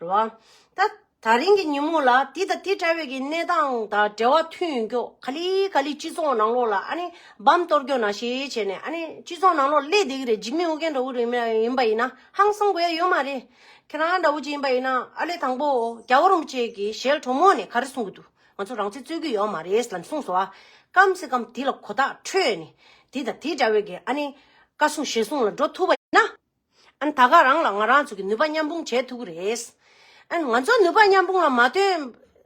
Speaker 2: རེད་བ། ད་ད་རིང་གི་ཉིན་མོ་ལ་དེ་དང་དེ་འདྲ་བའི་གི་གནས་སྟངས་དང་འབྲེལ་བ་མཐུན་ཡོང་རྒྱུ་ག་ལི་ག་ལི་སྤྱི་ཚོགས་ནང་ལོགས་ལ་ཨ་ནི་བམ་གཏོར་རྒྱོ་ན་ཞེ་བྱས་ནས་ཨ་ནི་སྤྱི་ཚོགས་ནང་ལོགས་སླེ་བསྡད་གི་རེད་འཇིགས་མེད་ཨོ་རྒྱན་འདྲ་བོ་རིང་མེད་ཡིན་པ་ཡིན་ན་ཧང་སང་དགོས་ཡ་ཡོད་མ་རེད། ཁྱེད་རང་འདྲ་བོ་ཅིག་ཡིན་པ་ཡིན་ན་ཨ་ལེ་དང་པོ་རྒྱ་བོ་རིན་པོ་ཆེ་གི་ཞལ་གྲོ་མོ་ནས་ག་རེ་གསུང་གི་འདུག་ང་ཚོ་རང་ཚེ་རྩོད་གི་ཡོད་མ་རེད་ལ་གསུངས་སོ། སྐམ་སེ་སྐམ་དེ་ལ་གོ་ཐག་ཁྲོད་ནས་དེ་དང་དེ་འདྲ་བའི་གི་ཨ་ནི་བཀའ་གསུང་ཞལ་གསུང་ལ་འགྲོ་ཐུབ་པ་ཡིན་ན། ཨན་ད་ག་རང་ལ་ང་རང་ཚོ་གི་ནུས་པ་མཉམ་སྤུངས་བྱེད་ཐུབ་ཀྱི་རེད། ཨན་ང་ཚོ་ནུས་པ་མཉམ་སྤུངས་ལ་མ་བཏོན།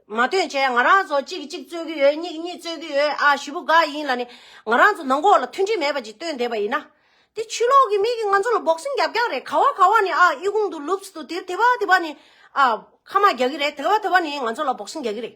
Speaker 2: མ་བཏོན་བྱས་ང་རང་ཚོ་གཅིག་གི་གཅིག་རྩོད་ཀྱི་ཡོད་གཉིས་ཀྱི་གཉིས་རྩོད་ཀྱི་ཡོད་ཨ་བཞི་པོ་འགའ་ཡིན་ལ་ནི་ང་རང་ཚོ་ནང་འགོག་ལ་མཐུན་སྒྲིལ་མེད་པ་ཅིག་བཏོན་བསྡད་པ་ཡིན་ན། དེ་ཆུ་ལོག་གི་མིག་གིས་ང་ཚོ་ལ་འབོག་སེམས་རྒྱབ་རྒྱག་རེད་ག་བ་ག་བ་ནི་ཨ་དབྱི་ཁུང་དུ་ལུབས་སུ་དེ་དེ་བ་དེ་བ་ནི་ཨ་ཁ་མ་རྒྱག་གི་རེད་དེ་བ་དེ་བ་ནི་ང་ཚོ་ལ་འབོག་སེམས་རྒྱག་གི་རེད།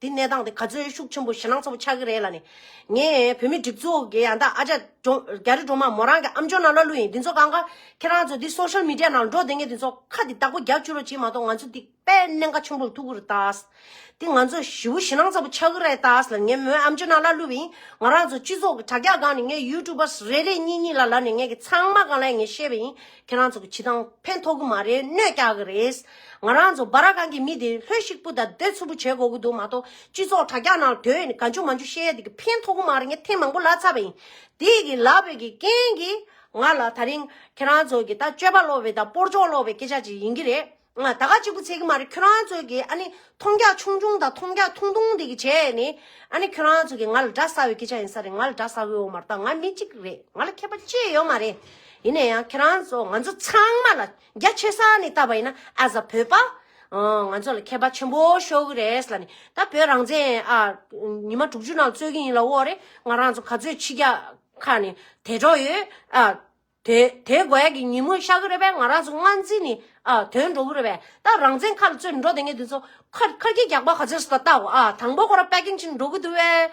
Speaker 2: དེ་གནས་སྟངས་དེ་ག་ཚོད་ཤུགས་ཆེན་པོ་ཞེད་སྣང་ཚ་པོ་ཆགས་ཀྱི་རེད་ལ་ནི། ངས་བོད་མི་སྒྲིག་འཛུགས་ཀྱི་ཡང་དག་ཨ་ཅག་རྒྱ་རི་སྒྲོལ་མ་མོ་རང་གི་ཨམ་ཅོག་ནང་ལ་ལུས་ཡིན་འདི་ཚོ་གང་གཱ་ཁྱེད་རང་ཚོ་འདི Social Media ནང་འགྲོ་བསྡད་ངས་འདི་ཚོ་ཁ་འདི་བདག་པོ་རྒྱག་བཅུག་རོགས་གྱིས་མ་གཏོགས་ང་ཚོ་འདི་དཔལ་གནད་འགའ་ཆེན་པོ་ལ་ཐུག་གི་རེད་ད། འདི་ང་ཚོ་བཞི་བོ་ཞེད་སྣང་ཚ་པོ་ཆགས་ཀྱི་རེད་ད་ལ་ནི་ངས་མོའི་ཨམ་ཅོག་ནང་ལ་ལུས་པ་ཡིན་ང་རང་ཚོ་སྤྱི་ཚོགས་ཀྱི་དྲ་རྒྱ་སྒང་ནས་ངས YouTubers རེ་རེ་གཉིས་གཉིས་ལ་ལ་ནི་ངས་ཀྱི་ཚང་མ་གང་ལ་ཡིན་ངས་ཤེས་པ་ཡིན་ཁྱེད་རང་ཚོ་གི་བྱེད་སྟངས་ཕན་ཐོགས་གི་མ་རེད་གནོད་རྒྱག་གི་རེད། ང་རང་ཚོ་སྦ་ར་གང་གི་མི་དེ་ལྷོད་ཤིག་པུ་དང་སྡོད་ཚུར་པུ་བྱེད་དགོས་ཀྱི་འདུག་མ་གཏོགས་སྤྱི་ཚོགས་དྲ་རྒྱ་ནང་དོན་ག་འཇུ་མ་འཇུ་བཤད་ཡ་དེ་གི་ཕན་ཐོག་གི་མ་རེད་ངས་ཐེངས་མང་པོ་ལབ་ཚར་བ་ཡིན། དེ་གི་ལབ་བའི་གི་རྐྱེན་གིས་ང་ལ་ད་རིང་ཁྱེད་རང་ཚོ་གི་ད་སྤྱོད་པ་ལོག་བའི་ད་སྤོར་སྦྱོང་ལོག་བའི་སྐད་ཆ་ཅིག་ཡིན་གྱི་རེད། ད་ག་ཅིག་པུ་ཚད་གི་མ་རེད་ཁྱོད་རང་ཚོ་གི་ཨ་ནི་མཐོང་རྒྱ་ཆུང་ཆུང་དང་མཐོང་རྒྱ་ཐུང་ཐུང་དེ་གི་བྱས་ཡ་ནི་ཨ་ནི་ཁྱོད་རང་ཚོ་གི་ང་ལ་འདྲ་ས་བའི་སྐད་ཆ་ཡིན་ས་རེད་ང་ལ་འདྲ་ས་བའོ་མ་གཏོགས་ང་མི་གཅིག་རེད་ང་ལ་མཁས་པ་ཅི་ཡོད་མ་རེད། ཡིན་ན་ཡང་ཁྱེད་རང་ཚོ་ང་ཚོ་ཚང་མ་ལ། རྒྱ་ཆེ་ས་ནས་བལྟ་བ་ཡིན་ན as a བོད་པ། ང་ཚོ་ལ་མཁས་པ་ཆེན་པོ་ཤོར་གི་རེད་ལ་ནི་ད་བོད་རང་བཙན་ཨ་ཉི་མ་དྲུག་ཅུ་ནང་རྩོད་ཀྱི་ཡིན་ལ་འོག་རེ་ང་རང་ཚོ་ག་ཚོད་ཕྱི་རྒྱ་ཁ་ནས་དད་གྲོགས་ཡོད་ཨ། དེ་དེ་དགོས་ཀྱི་ཉིན་མོ་ཤར་གི་རེད་པས་ང་རང་ཚོ་སྔར་འཛིན་ནི་ཨ་དོན་འགྲོ་གི་རེད་པས་ད་རང་བཙན་ཁ་ལ་རྩོད་འགྲོ་དེ་ངས་དེ་ཚོ་ཁ་ཁ་སྐྱེ་རྒྱག་པ་ག་ཚོད་ཟེར་ད་བལྟའོ་ཨ་དང་པོ་ཁོ་རང་པེ་ཀིན་ཅིག་འགྲོ་གི་འདུག་བས།